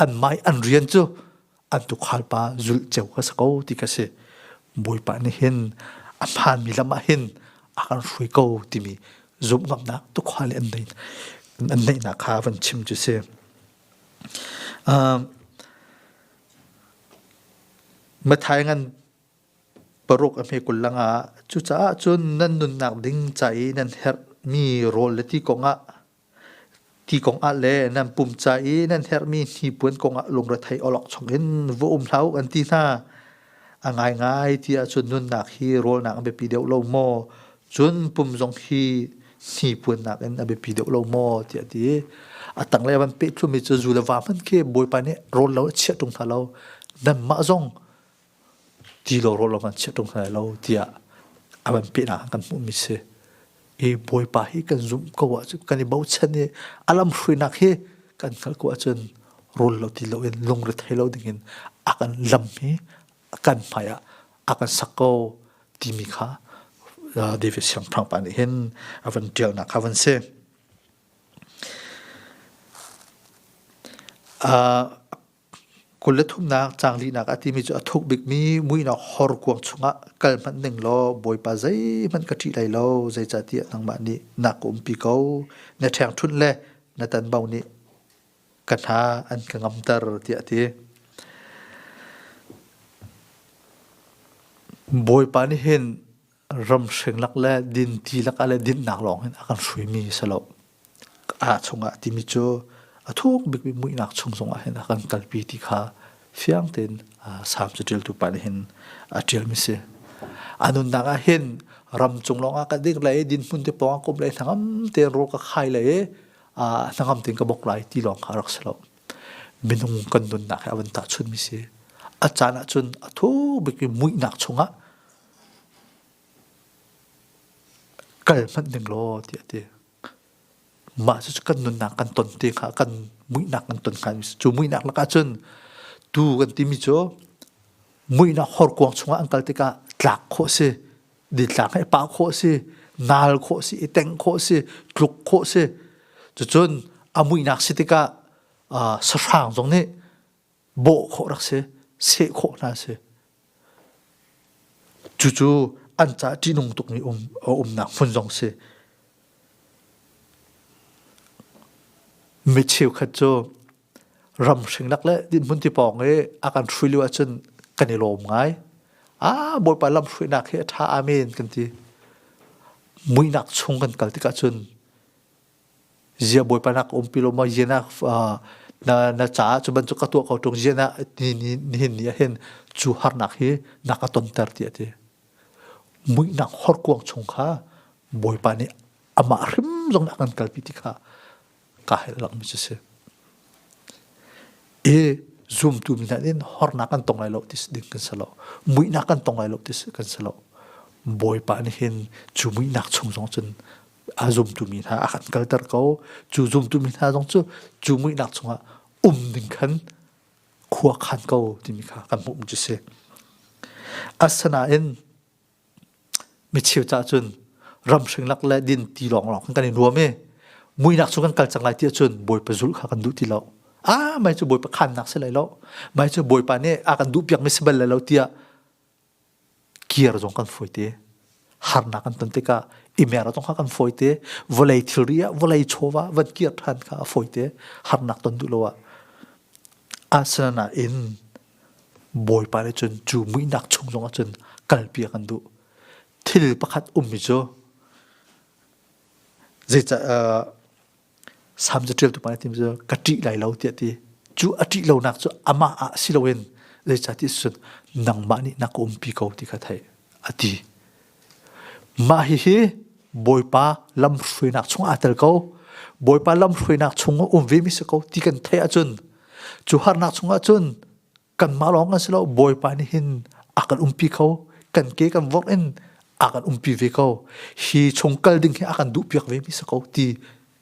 A: anmah i an rian cu an tukhal pa zulh ceu ka sa ko ti ka si bawipa nih hin a phanmi lam ah hin a kan hrui ko timi zumh ngamnak tukhal in an neihnak kha van chim cu si mathai ngan paruk a hme kullang ah cucaah cun nan nunnak ding ca i nan herh mi rawl le ti kong ah ti kong ah le nan pum ca i nan herhmi hnipuan kong ah lungrethei awlok chungin va um hlah uh an ti hna a ngaingai ti ahcun nunnak hi rawlnak a biapi deuh lo maw cun pum zong hi hnipuannak in a biapi deuh lo maw ti a ti a tanglei van pehtlumi cu zu le va hmanh khi bawipa nih rawl lo a chiah ṭung hna lo nan mah zong ti lo rawh law kan chiah ṭung hna lai lo tiah a van pehnak kan hmuhmi si. I Bawipa hi kan zumh ko ahcun kan i bochan i a lamhruinak hi kan hngalh ko ahcun rul lo ti loin lungrethei lo dingin a kan lam hi a kan hmaiah a kan sak ko timi kha uh, David siangpahrang pa nih hin a van ṭialnak kha van si. Uh, Kul le thumnak cang lihnak a timi cu a thuk bikmi muihnak horkuang chungah kal hmanh ning law Bawipa zeihmanh ka ṭih hlei lo, zeicahtiah nangmah nih na ka umpi ko. Na ṭhengṭhunh le na tanbo nih ka hna an ka ngamter, tiah a ti. Bawipa nih hin ramhring lak le dinti lak ah le dinnak lawng in a kan hruimi si lo. A chungah timi cu a thuk bikmi muihnak chung zongah hin a kan kalpi ti kha fiang tein Salm caṭialtu pa nih hin a ṭialmi si. A nunnak ah hin ram cung lawngah ka ding le dinhmun te pawng ah kum le hnangam tein ro ka khai le hnangam tein ka bok lai ti lawng kha rak si lo. Minung kan nunnak he a van tahchunmi si. A caan ahcun a thuk bikmi muihnak chungah kal hmanh ding law tiah a ti. Mah cu kan nunnak kan ton te hnga, kan muihnak kan ton hnga. Cu muihnak lakah cun tu kan timi cu muihnak horkuang chungah an kal tikah tlak khawh si, ditlang he pa khawh si, nal khawh si, i teng khawh si, tluk khawh si. Cucun a muihnak si tikah sahrang zong nih bawh khawh rak si, seh khawh hna si. Cucu an ca ṭihnung tukmi um, umnak hmun zong si. Mi cheukhat cu ramhring lak le dinhmun ti pawng i a kan hrui lio ahcun kan i lawm ngai. Ah, Bawipa lamhruainak hi a ṭha, amen kan ti. Muihnak chung kan kal tikah cun Zia bawipa nak um pi lo ma zia na na na caah cu bantuk ka tuah ko tung zia na ni ni nihin ni ah hin cu harnak hi na ka ton ter ti ati muihnak horkuang chung kha bawipa nih amah hrim zong nak an kalpi ti kha ka hel lang mi cu si e zumtu mi hna nin hornak kan tong lai lo ti ding kan sa lo muihnak kan tong lai lo ti kan sa lo bawipa nih hin cu muihnak chung zong cun a zumtumi hna a kan kalter ko cu zumtumi hna zong cu cu muihnak chungah um ding khan khua khan ko timi kha kan hmuh cu si asanain micheu ca cun ramhring lak le din ti lawnglawng kan in ruam i muinak cu kan kal cang lai ti ahcun bawipa zulh kha kan duh ti lo a mai cu bawipa khannak si lai lo mai cu bawipa nih a kan duh piakmi si bal lai lo tiah gear zong kan fawi te harnak kan ton tikah i mer zong kha kan fawi te vawlei thilri ah vawlei chawva van kir ṭhan kha a fawi te harnak ton duh lo ah Arsenal ah in Bawipa nih cun cu muihnak chung zong ah cun kalpi a kan duh thil pakhat ummi cu zeicah uh, Salm cu ṭialtu pa nih a ti cu ka ṭih lai lo tiah a ti. Cu a ṭih lonak cu amah ah si loin zeicahtiah cun nangmah nih na ka umpi ko ti kha theih a ti. Mah hihi Bawipa lamhruainak chungah aa tel ko. Bawipa lamhruainak chungah um vemi si ko ti kan theih ahcun cu harnak chungah cun kanmah lawng a si lo bawipa nih hin a kan umpi kho kan ke kan vok in a kan umpi ve ko hi chung kal ding hi a kan duh piak ve mi si ko ti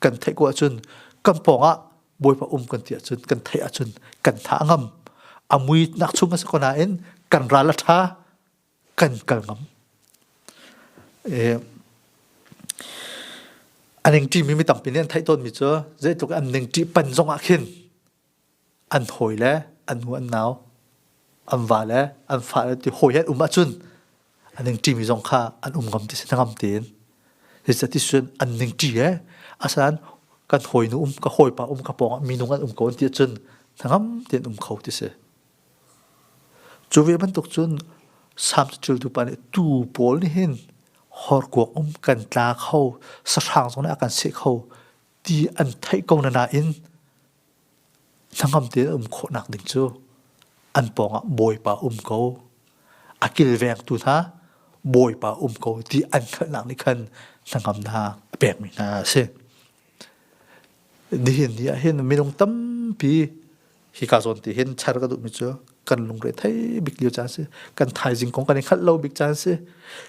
A: kan theih ko ahcun kan pawngah bawipa um kan ti ahcun kan theih ahcun kan tha a ngam a mui nak chung a si ko nain kan ral a tha kan kal ngam aning ti mi mi tampi nih an theih tawn mi cu zeitluk an ning ti pan zong ah khin an hawi le an nu an nau an va le an fa le ti hawi he an um ahcun an ning ṭi mi zong kha an um ngam ti si hnangam tein zeicahti cun an ning ṭi he asalan kan hawi nu um ka hawipa um ka pawngah minung an um ko an ti ahcun hnangam tein um kho ti si cu ve bantuk cun sam caciltu pa nih tuu pawl nih hin horkuak um kan tla kho sahrang zong nih a kan seh kho ti an theih ko na nain Hlangam tein um khawhnak ding cu an pawngah Bawipa um ko. A kilvengtu hna Bawipa um ko ti an hngalhnak nih khan hnangam hna a pekmi hna a si. Nihin ni ah hin minung tampi hi ka zawn ti hin char ka duhmi cu kan lungre thei bik lio caan si. Kan thaizing kong kan i hngalh lo bik caan si.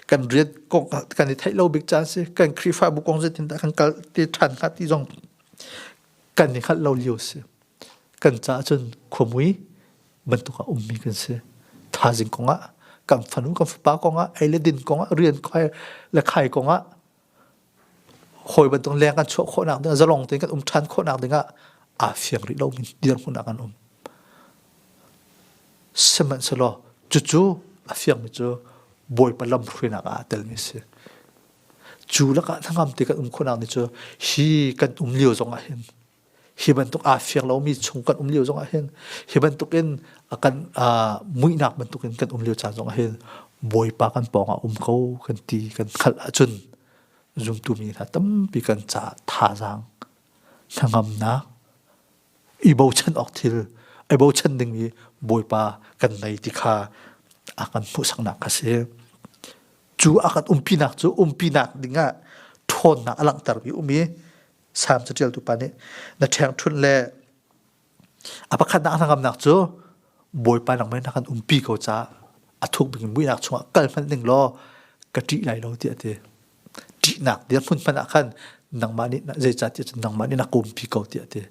A: Kan riat kong kan i theih lo bik caan si. Kan Khrihfabu kong zeitindah kan kal te ṭhan hnga ti zong kan i hngalh lo lio si kan caah cun khuamui bantuk a ummi kan si thazing kong ah kan fanu kan fapa kong ah ei le din kong ah rian khai le khai kong ah hawi bantuk leng kan chuah khawhnak ding zalong tein kan um ṭhan khawhnak ding ah aa fiang rih lomi dirhmun ah kan um sihmanhsehlaw cucu a fiangmi cu bawipa lam hruainak ah telmi si Cu lakah hnangam te kan um khawhnak ni cu hi kan um lio zongah hin hi bantuk aa fiang lomi chung kan um lio zongah hin hi bantukin kan muihnak bantukin kan um lio caan zongah hin Bawipa kan pawngah um ko kan ti kan hngalh ahcun zumtu mi hna tampi kan ca thazaang hnangamnak i bochan awk thil i bochan dingmi Bawipa kan ngei ti kha a kan hmuhsaknak kha si. Cu a kan umpinak cu umpinak dingah ṭhawnnak a langhtermi um i Salm caṭialtu pa nih na ṭhengṭhunh le a pakhatnak a hnangamnak cu Bawipa nangmah na kan umpi ko caah a thuk bik in muihnak chungah kal hmanh ning law ka ṭih lai lo tiah a ti. ṭihnak dirhmun hmanh ah khan nangmah nih zeicah ti cun nangmah nih na kumpi ko tiah ti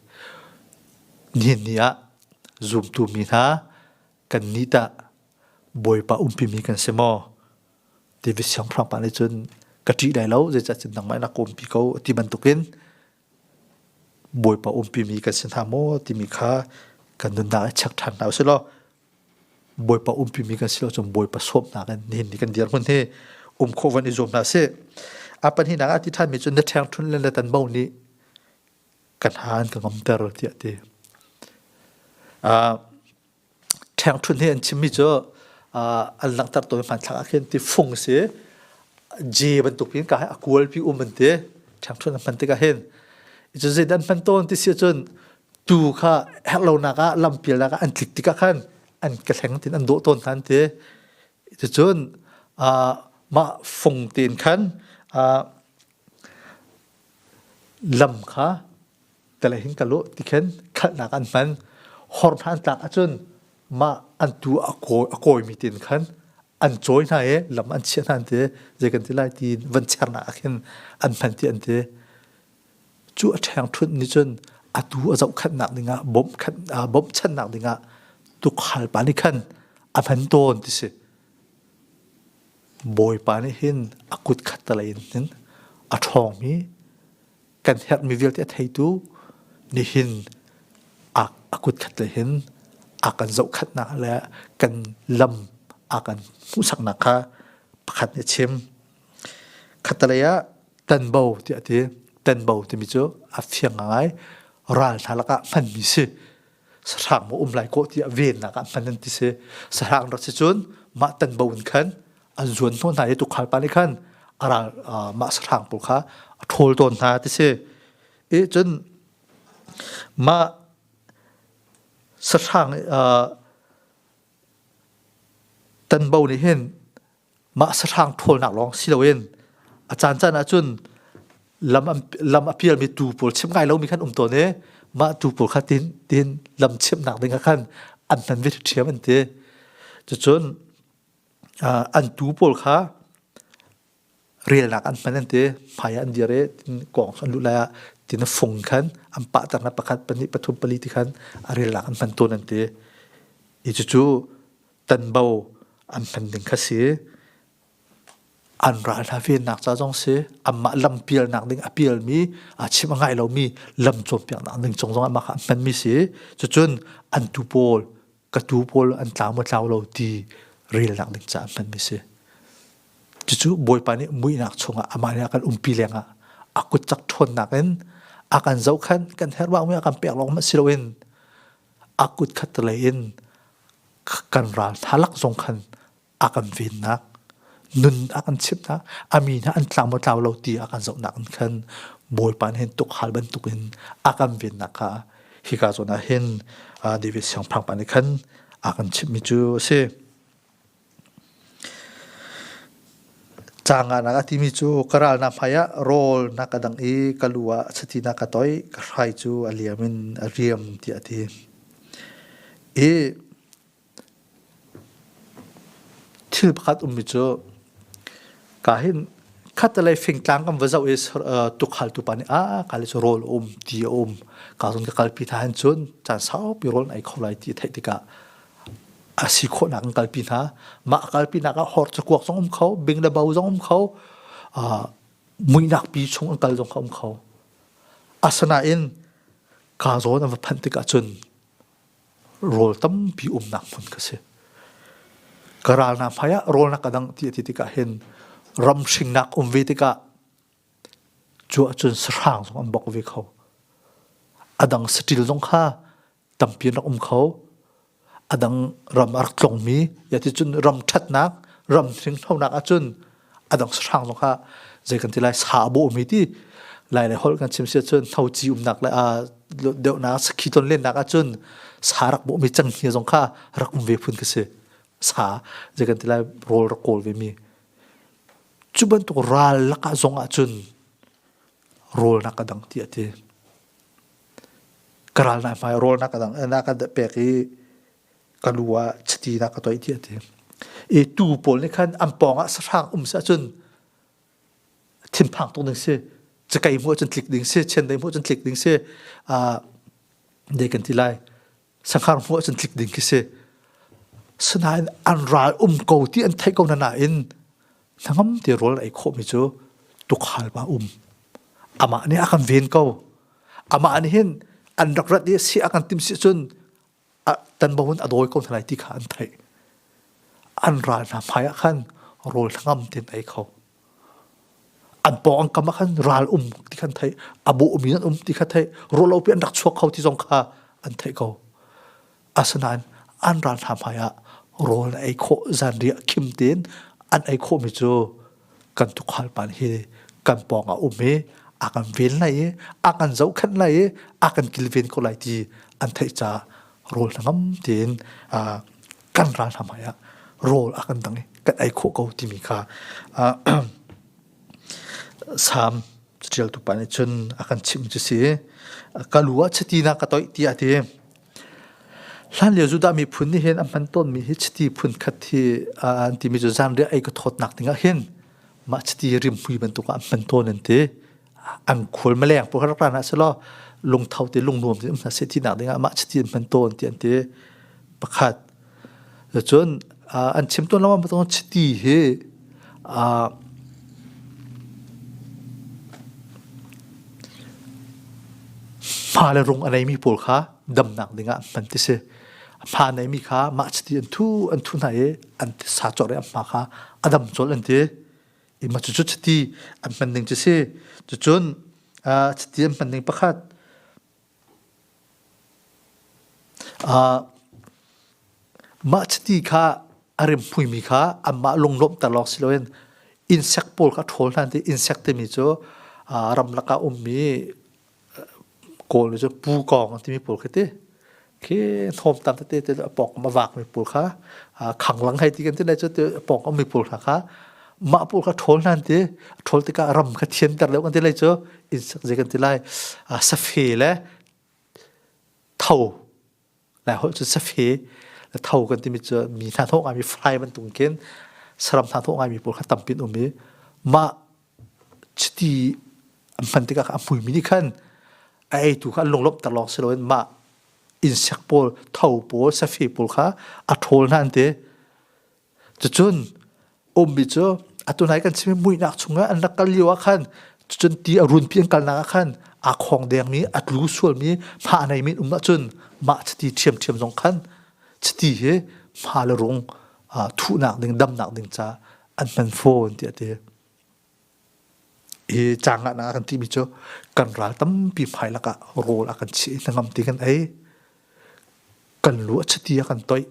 A: nihin ni ah zumtu mi hna kan nih tah bawipa umpimi kan si maw ti vi siangpahrang pa nih cun ka ṭih lai lo zeicah cun nangmah nih na kumpi ko ti bantukin bawipa umpimi kan si hna maw timi kha kan nunnak ah check ṭhan hna u sih law Bawipa umpimi kan si lo cun Bawipa sawmnak in nihin ni kan dirhmun hi um khawh van i zuam hna sih. A pahninak ah ti ṭhanmi cu na ṭhengṭhun le na tanbo nih kan ha an ka ngomter tiah ti. Uh, ṭhengṭhun hi an chimmi cu uh, an langhter tawi hmanthlak ah khin ti fung si je bantuk in ka hai a kualpi um an ti ṭhengṭhun an hman tikah hin cu zeidan hman tawn ti si cun tu kha herhlonak ah lampialnak ah an tlik tikah khan an ka thleng tin an dawh tawn hna an ti cucun mah fung tein khan lam kha tala hin ka luh ti khin khalhnak an hman hor hna an tlak ahcun mah an tu a kawimi tein khan an cawi hna i lam an chiah hna an ti zei kan ti lai ti van chernak ah khin an hman ti an ti Cu a ṭhengṭhunh nih cun atu a zohkhenhnak dingah bawmhkhan aa bawmchannak dingah tukhal pa nih khan a hman tawn ti si. Bawipa nih hin a kut khattalei in hin a ṭhawngmi kan herhmi vialte a theitu nihin a, a kut khatlei hin a kan zohkhatnak le kan lam a kan hmuhsaknak kha pakhat nih a chim. Khatalei ah tanbo tiah a ti. Tanbo timi cu a fiang ngai. Ralhna lakah hmanmi si. Sahrang maw um lai kawh tiah vennak ah hman an ti si. Sahrang rak si cun mah tanbo in khan an zuan hnawh hna i tukhal pa nih khan a ral mah sahrang pawl kha a ṭhawl tawn hna ti si. I cun mah sahrang tanbo nih hin mah sahrang ṭhawlnak lawng si loin a caancaan ahcun lam lam a pialmi tuu pawl chimh ngai lomi khan um tawn i mah tuu pawl kha tin tin lam chimhnak ding ah khan an hman ve ṭhiam an ti cucun an tuu pawl kha relnak an hman an ti hmai ah an dir i kawng an lut lai ah tin a fung khan an pahter na pakhat pahnih pathum pali ti khan a relnak an hman tawn an ti i cucu tanbo an hman ding kha si an ral hna vennak ca zong si anmah lam pialnak ding a pialmi a chim a ngai lomi lam cawnpiaknak ding cung zong amah kha an hmanmi si cucun an tu pawl ka tu pawl an tlau maw tlau lo ti relnak ding ca a hmanmi si cucu bawipa nih muihnak chungah amah nih a kan umpi lengah a kutcak ṭhawnnak in a kan zohkhan kan herwang mi a kan pek lawng si loin a kutkhat lei in kan ral hna lak zong khan a kan vennak nun a kan chimhnak a mi hna an tlang matlau lo ti a kan zohnak in khan bawipa nih hin tuk hal bantuk in a kan vennak kha hika zawn ah hin David siangpahrang pa nih khan a kan chimhmi cu a si Canganak a timi cu ka ralnak hmai ah rawlnak a dang i ka lu ah chatinak ka toih. Ka hrai cu a liam in a riam tiah a ti. I thil pakhat ummi cu ka hin khattelei fingtlang kan va zoh i tukhaaltu pa nih aa kale cu rawl a um ti a um. Ka zong ka kalpi hna hin cun caan saupi rawl an ei kho lai ti a theih tikah a si khawhnak in kalpi hna. Mah kalpinak ah hor cakuak zong um kho, bing le bo zong um kho, uh, muinak pi chung in kal zong kha um kho. Asinain ka zawn a va phanh tik ahcun rawl tampi umnak hmun ka si. Ka ralnak hmai ah rawlnak a dang ti a ti tikah hin ramhringnak um ve tikah cu ahcun sahrang zong an bok ve kho. A dang saṭil zong kha tampi rak um kho adang ram a rak tlongmi ya ti cun ram ṭhatnak ram hringlonak ahcun adang sahrang zong kha zei kan ti lai sa a bawhmi ti lai le holh kan chim si ahcun noci umnak le deuhnak sakhi ton lennak ahcun sa rak bawhmi canghi zong kha rak um ve phun ka si sa zei kan ti lai rawl rak kawl ve mi cu bantuk ral lakah zong ahcun rawl nak a dang ti a ti ka ral hna hmai rawlnak kadang na kan pek i ka nu ah chiti na ka toih ti a ti i tuu pawl nih khan an pawng ah sahrang um si ahcun thinphang tuk ding si cakei mu ahcun tlik ding si chen dei mu ahcun tlik ding si a dei kan ti lai sakhang hmu ahcun tlik ding khi si sinain an ral um ko ti an theih ko na nain hnangam te rawl ei khawhmi cu tukhal ma um amah nih a kan ven ko amah nih hin an rak rat i si a kan tim si cun tan bawun a dawi ko hna lai ti kha an theih an ral hna hmai ah khan rawl hnangam ten ei kho an pawng an kam ah khan ral um ti khan theih a bawhmi an um ti kha theih rawlopi an rak chuak kho ti zong kha an theih ko asinain an ral hna hmai ah rawl an ei khawh zanriah khim tein an ei khawhmi cu kan tukhal pan hi kan pawng a um i a kan vel lai i a kan zohkhenh lai i a kan kilven ko lai ti an theih ca rawl hnangam tein kan ralhram hmai ah rawl a kan dang i kan ei khawh ko timi kha Salm catialtu pa nih cun a kan chimh cu si ka lu ah chatinak ka toih tiah ti hlan lio Judah miphun nih hin an hman tawnmi hi chiti phun khat hi an timi cu zanriah ei ka thawtnak ding ah hin mah chiti rimhmui bantuk ah an hman tawn an ti an khul maleng pu har plan ah selo lungtho ti lungnuam ti hna se ti nak ding ah mah chiti man ton ti an ti pakhat cun an chim ton lama ma chiti hi ma le rung anei mi pawl kha dam nak ding ah man ti si ma nei mi kha mah chiti an thu an thu na e an ti sa chor e ma kha adam chol an ti ima cu cu chiti an hman ning cu si cucun chiti an hman ning pakhat mah chiti kha a rimhmuimi kha anmah lunglawmhter lawng si loin insect pawl kha ṭhawl hna ti insect timi cu ramlak ah ummi Kawl cu pukawng an timi pawl khi ti. Khi hnawmtang tete te a pawngkam a vakmi pawl kha khanglang hei ti kan ti naih cu ti pawngkam mi pawl hna kha mah pawl kha ṭhawl hlan ti ṭhawl tikah ram kha thianter deuh kan ti lai cu inn sak zei kan ti lai. Safe le tho Lai holh cu safe, la tho kan timi cu mi hna thawh ngaimi frai bantuk khin saram hna thawh ngaimi pawl kha tampi an um i mah chiti an hman tikah a hmumi nih khan a eitu kha an lunglawmhter lawng si loin mah insek pawl, tho pawl, safe pawl kha a ṭhawl hna an ti. Cucun ummi cu atu nai kan chim i muihnak chungah an rak kal lio ah khan cucun ti a runpi an kalnak ah khan aa khawng dengmi a tlu sualmi hma a neimi um ahcun mah chiti ṭhiamṭhiam zong khan chiti hi hma le rung thuhnak ding damnak ding ca an hman fawn tiah a ti. Hi caangannak ah kan timi cu kan ral tampi hmai lakah rawl a kan chiah i hnangam ti kan ei. Kan lu a chiti a kan toih.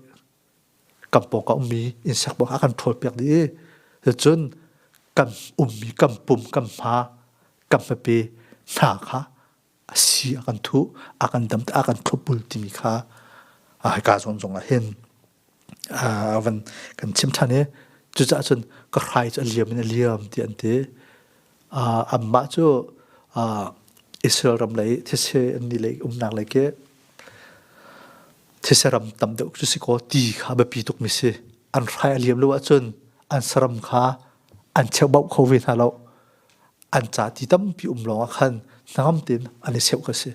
A: kan pawng ah ummi insect pawng ah kan ṭhawlpiak dih i cun kan ummi kan pum kan hma kan hmape hna kha a si a kan thuh a kan dam a kan thlopbul timi kha hika zawn zong ah hin a van kan chim ṭhan i cucaah cun ka hrai cu a liam in a liam ti an ti Anmah cu Israel ram lei thetse an ni lei umnak lei ke thetse ram tam deuh cu si kaw ti kha biapi tukmi si. An hrai a liam lo ahcun an saram kha an cheuhbauh kho ve hna lo. An ca ti tampi um lawngah khan hnangam tein an i seuh ka si.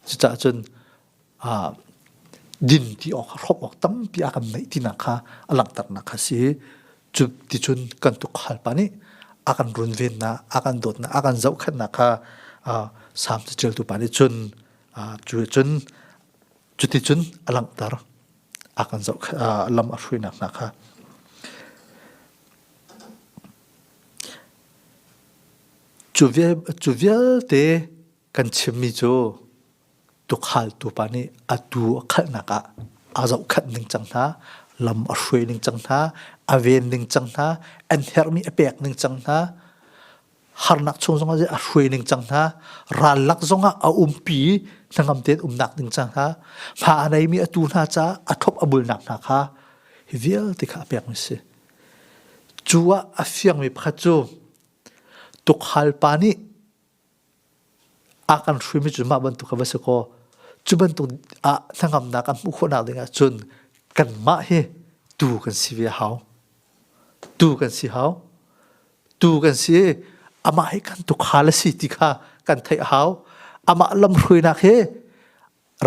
A: Cucaah cun din ti awk hrawk awk tampi a kan neih tinak kha a langhternak kha si. Cu ticun kan tukhal nih a kan runvennak, a kan dawtnak, a kan zohkhenhnak kha Salm catialtu pa nih cun cu cun cuticun a langhter, a kan zoh lam a hruinak hna kha. Cu vialte Kan chimmi cu tukhaaltu pa nih a tuu a khalhnak ah aa zohkhat ningcang hna, lam a hruai ningcang hna, a ven ningcang hna, an herhmi a pek ningcang hna, harnak chung zongah a hruai ningcang hna, rallak zongah a umpi hnangam tein umnak ningcang hna, fa a neimi a tuu hna caah a thop a bulnak hna kha hi vialte kha a pek mi si. Cu ah a fiangmi pakhat cu tukhal pa nih a kan hruimi cu mah bantuk kha va si kaw cu bantuk ah hnangamnak an hmuh khawhnak ding ah cun kanmah hi tuu kan si ve hau tuu kan si hau tuu kan si i amah hi kan tukhal a si ti kha kan theih hau amah lamhruainak hi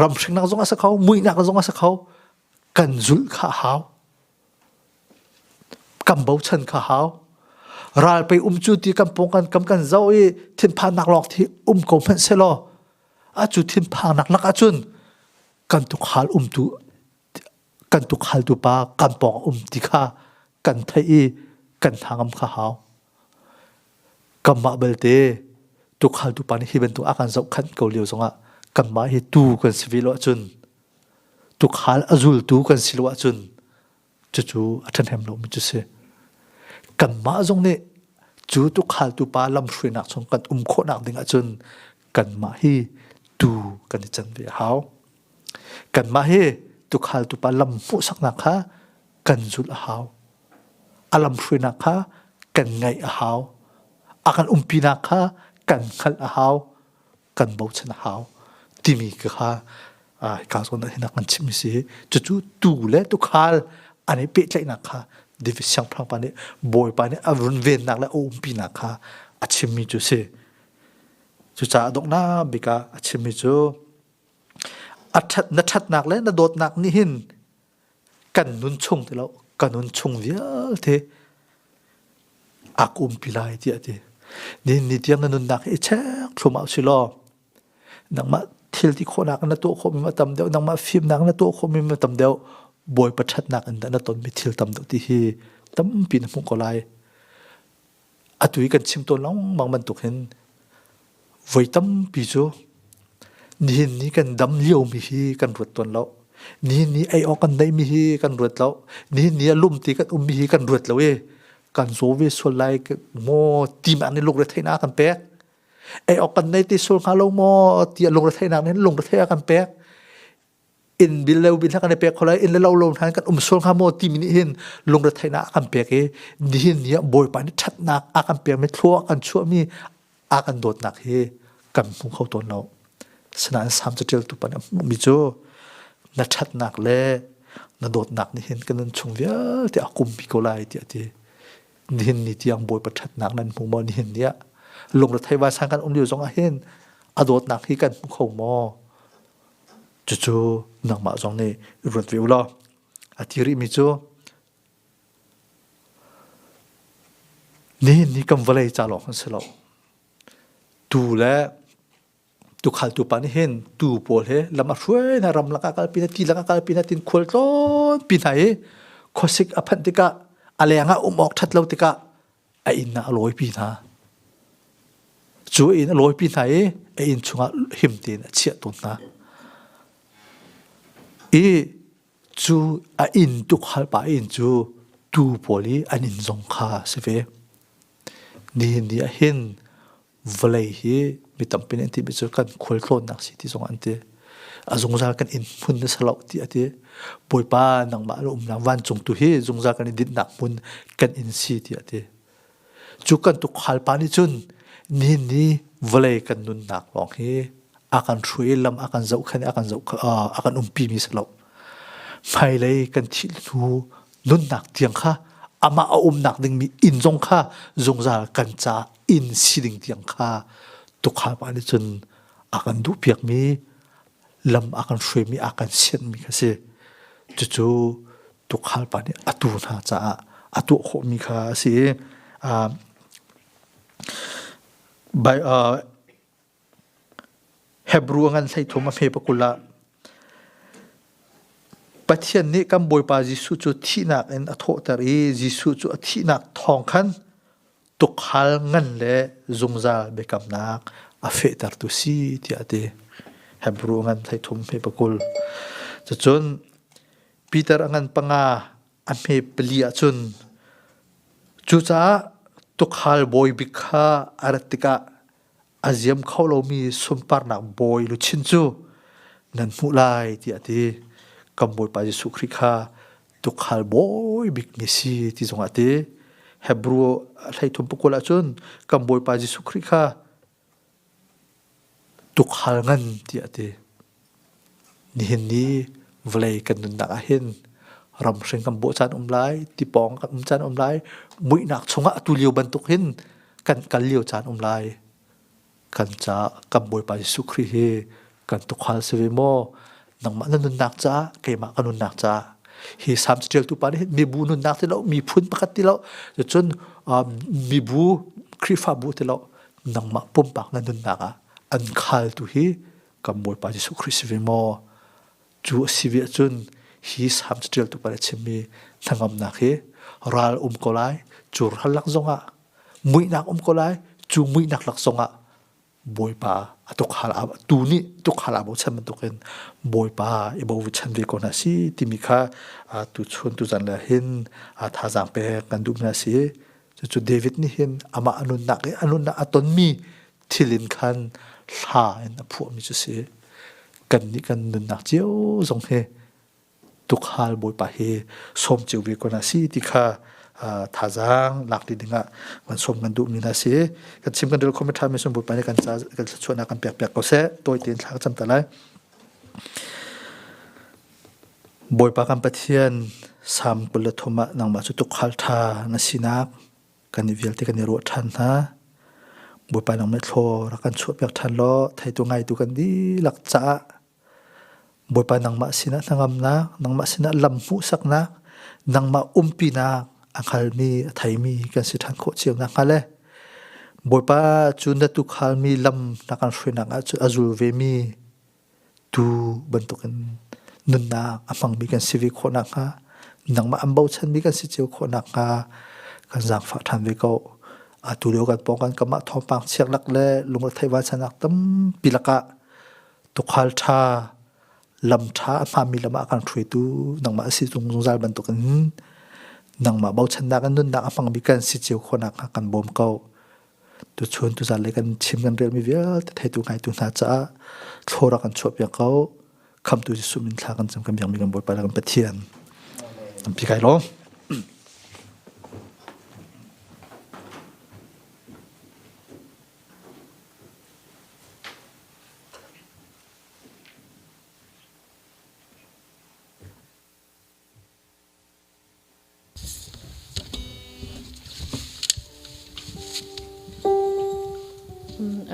A: ramhringnak zong a si kho muihnak zong a si kho kan zulh kha hau kan bochan kha hau. Ral pei um cu ti kan pung kan kam kan zoh i thinphannak lawng thi um ko hmanh selaw acu thinphannak lak ahcun kan tuk hal um tu kan tuk hal tu pa kan pawng um ti kha kan theih i kan hnangam kha hau. Kanmah belte tuk hal tu pa nih hi bantuk a kan zoh khan ko lio zongah kanmah hi tu kan si ve lo ahcun tukhal a zultu kan si lo ahcun cucu a ṭhahnem lomi cu si. Kanmah zong nih cu tukhal pa lamhruainak chung kan um khawhnak ding ahcun kanmah hi tu kan i can ve a hau. Kanmah hi tukhal tupa lam hmuhsaknak kha kan zulh a hau. A lamhruainak kha kan ngaih a hau. A kan umpinak kha kan hngalh a hau. kan bochan a hau timi kha ka zawn ah hinak kan chimmi si cucu tu le tukhal an i pehtlaihnak kha divi siangpahrang pa nih bawipa nih a runvennak le a umpinak kha a chimmi cu si cucaah donghnak bik ah a chimmi cu a ṭhat na ṭhatnak le na dawtnak nih hin kan nun chung ti lo kan nun chung vialte ak umpi lai ti a ti ni ni tiang na nunnak i cheng thlum au si law nangmah thil ti khawhnak na tuah khawhmi ma tam deuh nangmah fimnak na tuah khawhmi ma tam deuh bawi pathatnak in na tonmi thil tam deuh ti hi tampi na hmuh ko lai atu i kan chim tawn lengmang bantuk hin voi tampi cu nihin ni kan dam liomi hi kan ruat tawn lo nihin ni ei awk kan neihmi hi kan ruat lo nihin ni a lumti kan ummi hi kan ruat lo i kan zaw ve sual lai maw timak nih lungretheihnak kan pek ei awk kan nei ti sual hnga lo maw ti a lungretheinak nih lungretheih a kan pek in bil le ubil kan i pek kho lai in le lo lo hna kan um sual hnga maw timi nih hin lungre theihnak a kan pek i nihin ni ah bawipa nih ṭhatnak a kan pekmi thlua kan chuahmi a kan dawtnak hi kan hmu kho tawn lo sinain sam caṭialtu pa nih a hmuhmi cu na ṭhatnak le na dawtnak nih hin kan nan chung vialte a kumpi ko lai tiah ti nihin ni tiang bawipa ṭhatnak nan hmu maw nihin ni ah lungrethei vai sang kan um lio zongah hin a dawtnak hi kan hmu kho maw Cucu nangmah zong nih i ruat ve u law a ti rihmi cu nihin ni kan vawlei ca lawng an si lo. Tuu le tuukhaltu pa nih hin tuu pawl hi lam a hruaina ram lakah kalpi hna, ti lakah kalpi hna tin khual tlawnpi hna i khuasik a phanh tikah a leng ah um awk ṭhat lo tikah a inn ah a lawipi hna. Cu inn a lawipi hna i a inn chungah him tein a chiah tawn hna. I cu a inn tukhal pa inn cu tuu pawl i an inn zong kha a si ve. Nihin ni ah hin vawlei hi mi tampi nih an ti mi cu kan khualtlawnnak si ti zong an ti a zungzal kan in hmun na salo ti a ti bawipa nangmah lo umnak vancung tu hi zungzal kan i dinnak hmun kan in si ti a ti cu kan tu khalpa nih cun ni ni vawlei kan nunnak lawng hi a kan hruai lam a kan zoh khan a kan zoh a kan umpi mi salo Hmailei kan thih hnu nunnak tiang kha amah a umnak dingmi inn zong kha zungzal kan ca inn si ding tiang kha tukhal nih cun a kan duh piakmi lam a kan hruaimi a kan sianmi kha si cucu tukhal pa nih atu hna caah a tuah khawhmi kha a si i uh, by, uh, Hebrew ngan hleithum a hme pakul ah Pathian nih kan Bawipa Jesuh cu thihnak in a thawhter i Jesuh cu a thihnak thawng khan tukhal ngan le zungzal biakamnak a fehtertu si tiah a ti. Hebrew ngan hleithum hme pakul. Cucun Peter a ngan panga a hme pali ahcun cucaah tukhal bawi bik kha a rat tikah a ziam kho lomi sunparnak bawi luchin cu nan hmuh lai tiah a ti kan bawipa Jesuh Khrih kha tukhal bawi bikmi si ti zongah a ti Hebrew hleithum pakul ahcun kan bawipa Jesuh Khrih kha tukhal ngan tiah a ti Nihin ni vawlei kan nunnak ah hin ramhring kan bawh caan um lai, tipawng kan um caan um lai, muihnak chungah atu lio bantuk hin kan kal lio caan um lai. Kan ca kan Bawipa Jesuh Khrih hi kan tukhal si ve maw? Nangmah na nunnak caah, keimah ka nunnak caah. Hi Salm caṭialtu pa nih hin mibu nunnak ti lo, miphun pakhat ti lo, cun mibu Khrihfabu ti lo, nangmah pumpak na nunnak ah an khaltu hi kan Bawipa Jesuh Khrist si ve maw? Cu a si ve ahcun hi salm caṭialtu pa nih a chimmi hnangamnak hi ral um ko lai, curhallak zongah, muihnak um ko lai, cu muihnak lak zongah Bawipa a tukhal tu nih tukhal aa bochan bantukin Bawipa i bochan ve ko hna si timi kha tuchun tuzan le hin thazaang pek kan duhmi hna si. Cucu David nih hin amah a nunnak i a nunnak a tonmi thil in khan hla in a phuahmi cu si. Kannih kan nunnak cio zong hi tukhal Bawipa hi sawm cio ve ko na si ti kha thazaang lak ti dingah kan sawm kan duhmi na si kan chim kan rel khomi ṭhami sun Bawipa nih kan ca kan thluachuahnak kan pek piak ko seh tawi tein thla ka cam ta lai Bawipa kan Pathian sam kul le thum ah nangmah cu tukhal ṭha na sinak kan i vialte kan i ruah ṭhan hna. Bawipa lawng nih thlaw rak kan chuahpiak ṭhan law theitu ngaitu kan dihlak caah Bawipa nangmah sinah hnangamnak, nangmah sinah lam hmuhsaknak, nangmah umpinak a hngalmi a theimi kan si ṭhan khawh cio nakhnga le Bawipa cu na tukhal mi lam na kan hruainak ah cu a zul vemi tuu bantukin nunnak a hmangmi kan si ve khawh nakhnga, nangmah an bochanmi kan si cio khawh nakhnga kan zaangfah ṭhan ve ko. Atu lio kan pawng kan kamah thawngpang chiaklak le lungrethei vaicanaak tampi lakah tukhal ṭha, lam ṭha a hmami lam ah kan hruaitu nangmah a si tung zungzal bantukin nangmah bochannak in nunnak a hmangmi kan si cio khawh nakhnga kan bawm ko. Tuchun tuzanlei kan chim kan relmi vialte theitu ngaitu hna caah thlora kan chuahpiak ko khamtu Jesuh min thla kan cam kan biakmi kan Bawipa le kan Pathian an pi kai lawm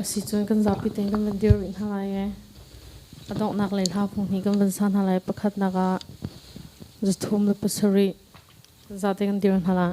C: Asi cun kan zapi tein kan van dir rih hna lai i a donghnak lei hla phung hnih kan van sa hna lai. Pakhatnak ah zathum le pasarih zate kan dir hna lai.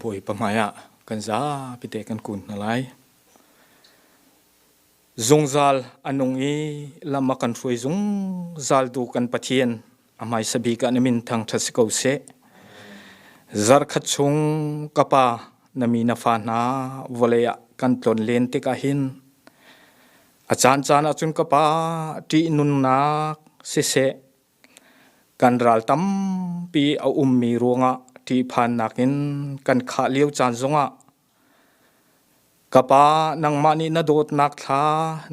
E: Bawipa hmaiah kan zapi te kan kun hna lai. zungzal a nung i lam a kan hruai zungzal tu kan pathian a hmaisa bik ah na min thangṭhat si ko seh zarkhat chung ka pa na mi na fa hna vawlei ah kan tlon len tikah hin a caan caan ah cun ka pa ṭih nunnak siseh kan ral tampi a ummi ruangah ṭih phannak in kan khah lio caan zongah Ka pa, nangmah nih na dawtnak thla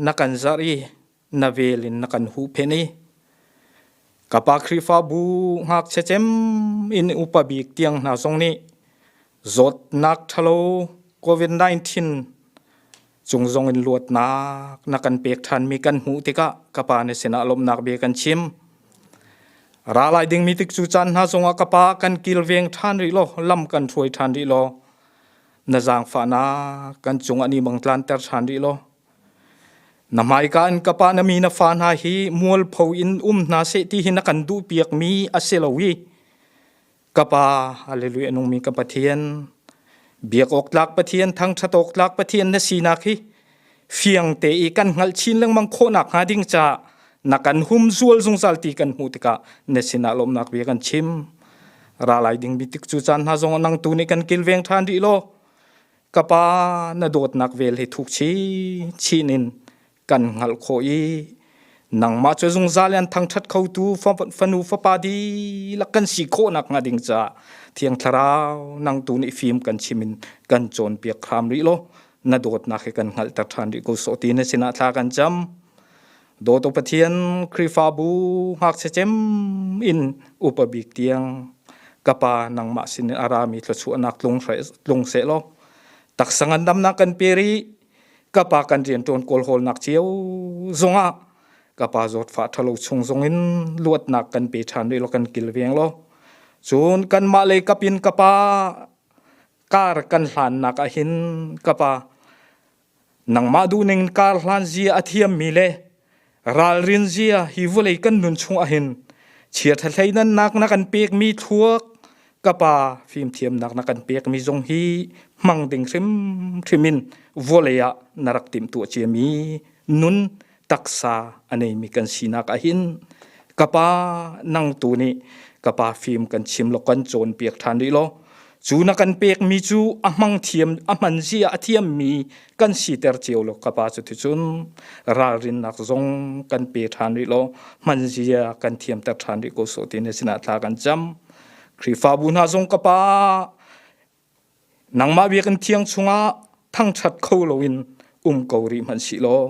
E: na kan zarh i na vel in na kan huhphenh i ka pa Khrihfabu ngakchia cem in upa bik tiang hna zong nih zawtnak ṭhalo COVID-19 Cung zong in luatnak na kan pek ṭhanmi kan hmuh tikah ka pa nih sinah lawmhnak bia kan chim. Ra lai dingmi tik cu caan hna zongah ka pa kan kilveng ṭhan rih law lam kan hruai ṭhan rih law na zaangfahnak kan cungah ni bang tlanter ṭhan rih law na hmaika in ka pa na mi na fa hna hi mualpho in um hna seh ti hi na kan duhpiakmi a si lo i kapa hallelujah nungmi ka pathian biak awk tlak pathian thangthat awk tlak pathian na sinak hi fiang te i kan ngal chin lengmang khawnak hnga ding cha na kan hum zual zungzal ti kan hmu tikah na sinah lomnak bia kan chim ra lai ding bi tik cu chan hna zong nang tu nih kan kilveng than ri lo kapa na dawtnak vel hi thuk chi chinin kan hngalh kho i nangmah cu zungzal in thangthat khotu fanu fapa di lak kan si khawhnak hnga ding ca thiang thlarau nang tu nih fim kan chimin kan cawn piak kham rih lo na dawtnak hi kan hngalh tak than rih ko so ti na sinah thla kan cham dawtu pathian khrifabu ngak se chem in upabik tiang kapa nangmah sin arami thluchuah nak tlung tlung se lo tak sangan dam na kan peri ka pa kan rian ṭuan kawl hawlnak cio zongah ka pa zawt fa ṭhalo chung zong in luatnak kan pe ṭhan rih lo kan kilveng lo cun kanmah lei kapin ka pa kar kan hlannak ah hin ka pa nangmah duh ning kar hlan zia a thiam mi le ralrin zia hi vulei kan nun chung ahin chia tha hlei nan nak na kan pek mi thluak kapa fim thiam nak na kan pek mi zong hi hmang ding hrim hrimin vulei ah na rak tim tu chia mi nun taksa anei mi kan sinak ahin kapa nang tu ni kapa fim kan chim lo kan chawn piak than ri lo Cu na kan pekmi cu a hmang thiam a hman zia a thiammi kan siter cio lo ka pa cu thu cun ralrinnak zong kan pe ṭhan rih lo hman zia kan thiamter ṭhan rih ko so ti ne sinah thla kan cam Khrihfabu hna zong ka pa nangmah biak in thiang chungah thangṭhat kho loin um ko rih hman si law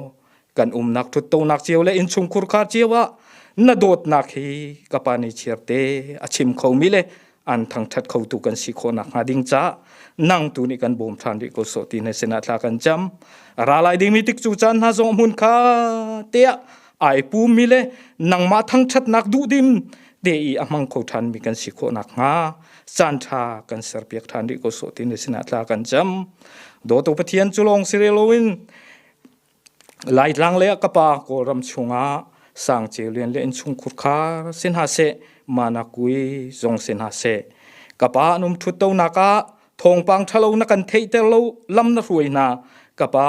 E: kan umnak ṭhuttonak cio le innchungkhur khar cio ah na dawtnak hi ka pa nih chiarte a chim kho mi le an thangṭhat kho tu kan si khawhnak hnga ding ca nang tu nih kan bawm ṭhan rih ko sawh ti na sinah thla kan cam ra lai dingmi tik cu caan hna zong hmun kha te ah ai pum mi le nangmah thangṭhatnak duh dim te i a hmang kho ṭhan mi kan si khawhnak hnga caan ṭha kan serpiak ṭhan rih ko sawh ti na sinah thla kan cam dawto pathian cu lawng si lo in Laitlang le ka pa Kawlram chungah sangceu lian le innchung khurkhar si hna seh, manakui zong si hna seh. Ka pa an um ṭhut tonak ah thawngpang ṭhalo na kan theihter lo lam na hruai hna. Ka pa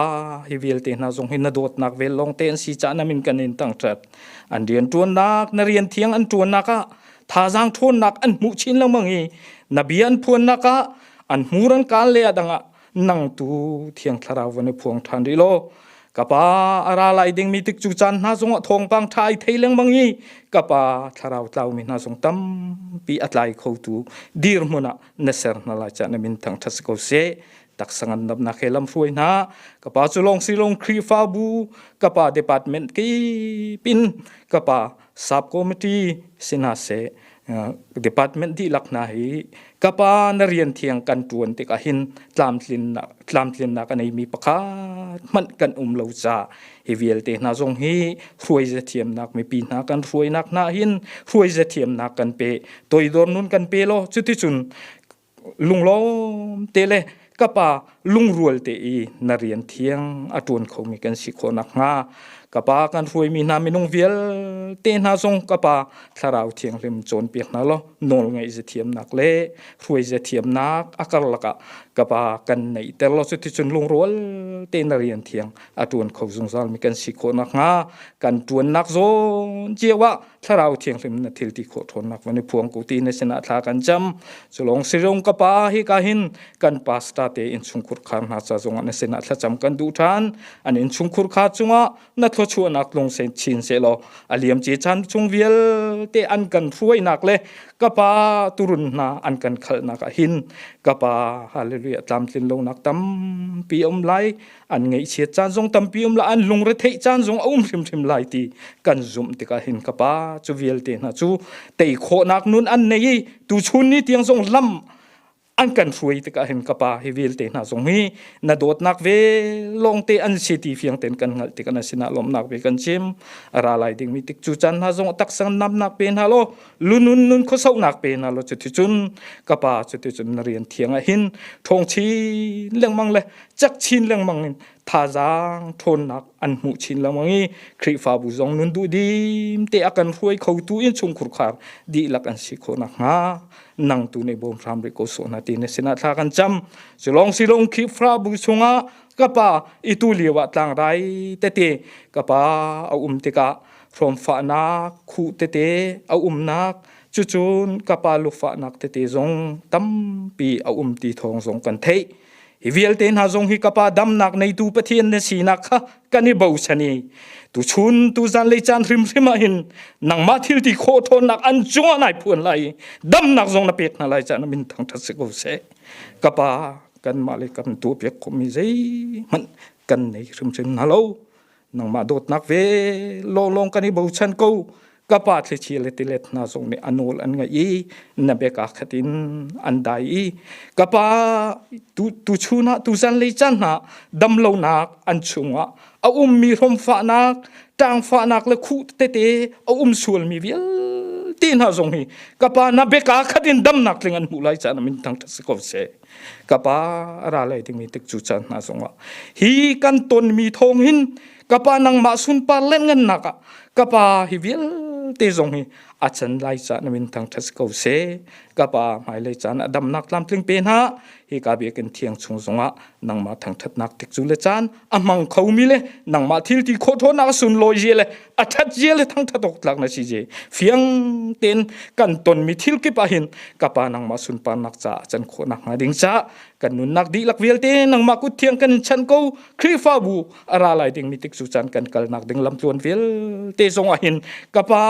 E: hi vialte hna zong hi na dawtnak vel lawng te an si caah na min kan in tangṭhat. An rian ṭuannak, na rian thiang an ṭuannak ah thazaang ṭhawnnak an hmuh chin lengmang i na bia an phuannak ah an hmur an kaan le a dang ah nang tu thiang thlarau van i phuang than ri lo kapa ara lai ding mi tik chu chan hna zong a thong pang thai thei leng mangi kapa thlarau tlau mi hna zong tam pi atlai kho tu dir hmuna na ser na la cha na min thang that ko se tak sangan nap na khelam hruai na kapa chu long si long khri fa bu kapa department ki pin kapa Sub-committee si hna seh, department dihlak hna hi kapa na rian thiang kan ṭuan tikah hin tlamtlinnak, tlamtlinnak a neimi pakhat hmanh kan um lo caah hi vialte hna zong hi hruaize thiamnak mipi hna kan hruainak hna hin hruaize thiamnak kan pe. Toidor nun kan pe law cuticun lunglawm te le ka pa lungrual te i na rian thiang a ṭuan khomi kan si khawh nakhnga ka pa kan hruaimi hna minung vialte hna zong ka pa thlarau thianghlim cawnpiak hna law nawl ngaih ze thiamnak le hruai ze thiamnak a karlak ah ka pa kan neihter law cuticun lungrual te na rian thiang a ṭuan kho zungzalmi kan si khawh nakhnga kan ṭuannak zawn cio ah thlarau thianghlim na thil ti kho ṭhawnnak van i phuang ku ti na sinah thla kan cam cu lawng si rong ka pa hi ka hin kan pastor te in chungkhur khar hna ca zongah na sinah thlacam kan duh ṭhan an in chungkhur kha chungah na thlo chuahnak lung sen chin se law aliam ce chan chung vialte an kan hruainak le ka pa turun hna an kan khalnak ah hin ka pa hallelujah tlamtlin lonak tampi om lai an ngaihchiat caan zong tampi um la an lungre theih caan zong a um hrimhrim lai ti kan zumh tikah hin ka pa cu vialte hna cu tei khawhnak nun an nei i tu chun ni tiang zong lam an kan hruai tikah hin ka pa hi vialte hna zong hi na dawtnak ve longte an si ti fiang ten kan hngalh tikah na sinah lawmnak ve kan chim ra lai ding mi tik cu chan hna zong tak sang namnak pe hna lo lunun nun khosonak pe hna lo chu ti cun ka pa chu ti cun na rian thiang ah hin thongchi lengmang le cek chin lengmang in thazaang ṭhawnnak an hmuh chin lengmang i Khrihfabu zong nun duh dim te a kan hruai kho tu in chungkhur khar dihlak an si khawh nakhnga nang tu nei bawm hram rih ko sawh na ti ne sinah thla kan cam silong silong Khrihfabu chungah ka pa i tu lio ah tlang rai tete ka pa a um tikah hrawmfahnak khu tete a umnak cucun ka pa lufahnak tete zong tampi a um ti thawng zong kan theih hi vialte hna zong hi kapa damnak neitu pathian na sinak kha kan i bosani tu chun tu zan lei caan hrim hrim ah hin nangmah thil ti khawh thawnnak an cungah nai phuan lai damnak zong na pek hna lai caan min thang that si ko se kapa kan mah le kan tu pek khomi zei hmanh kan nei hrim hrim hna lo nangmah dawtnak ve lawnglawng kan i bochan ko ka pa thlichi le tilet hna zong nih anol an ngaih i na bek ah khatin an dai i ka pa tu tu chun ah tu zanlei caan hna damlonak an chungah a ummi hlomfahnak ṭangfahnak le khu tete a um sualmi vialte hna zong hi ka pa na beka khatin damnak tling an hmuh lai caan min thang ta si ko seh ka pa a ra lai dingmi tik cu caan hna zongah hi kan tonmi thawng hin ka pa nangmah sunpar lenngannak ah ka pa hi vialte zong hi a chan lai caan na min thangṭhat si ko se ka pa hmailei caan a damnak tlamtling pe hna hi ka biakin thiang chung zongah nangmah thangṭhatnak tik cu le caan a mang kho mi le nangmah thil ti kho tho nak sun lo je le a that je le thang tha tok tlak na si je fiang ten kan ton mi thil kip a hin ka pa nangma sun pa nak cha chan kho nak nga ding cha kan nun nak di lak vel te nangma ku thiang kan chan ko khrifa bu ara lai ding mi tik su chan kan kal nak ding lam tluan vel te zong a hin ka pa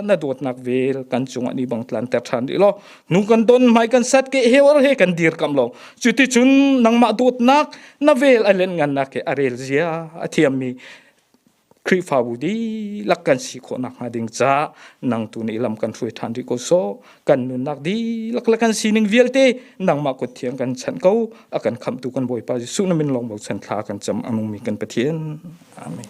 E: na dot nak vel kan chung ani bang tlan ter than di lo nu kan don mai kan sat ke hewar he kan dir kam lo chuti chun nangma dot nak na vel a len ngannak he a rel zia a thiammi Khrihfabu dihlak kan si khawh nakhnga ding ca nang tu nih lam kan hruai ṭhan rih ko so kan nunnak dihlak la kan sining vialte nangmah kut thiang kan chanh ko a kan khamtu kan Bawipa Jesuh na min long bochan thla kan cham amungmi kan Pathian amen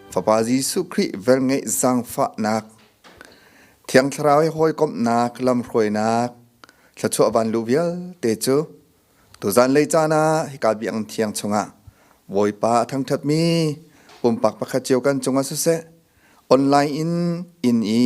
F: Fapa Jesuh Khrih velngeih zangfahnak Thiang Thlarau i hawikomhnak lamhruainak thluachuah van lu vialte cu tuzan lei caan ah hika biakinn thiang chungah Bawipa a thangṭhatmi pumpak pakhat cio kan cungah siseh online in inn i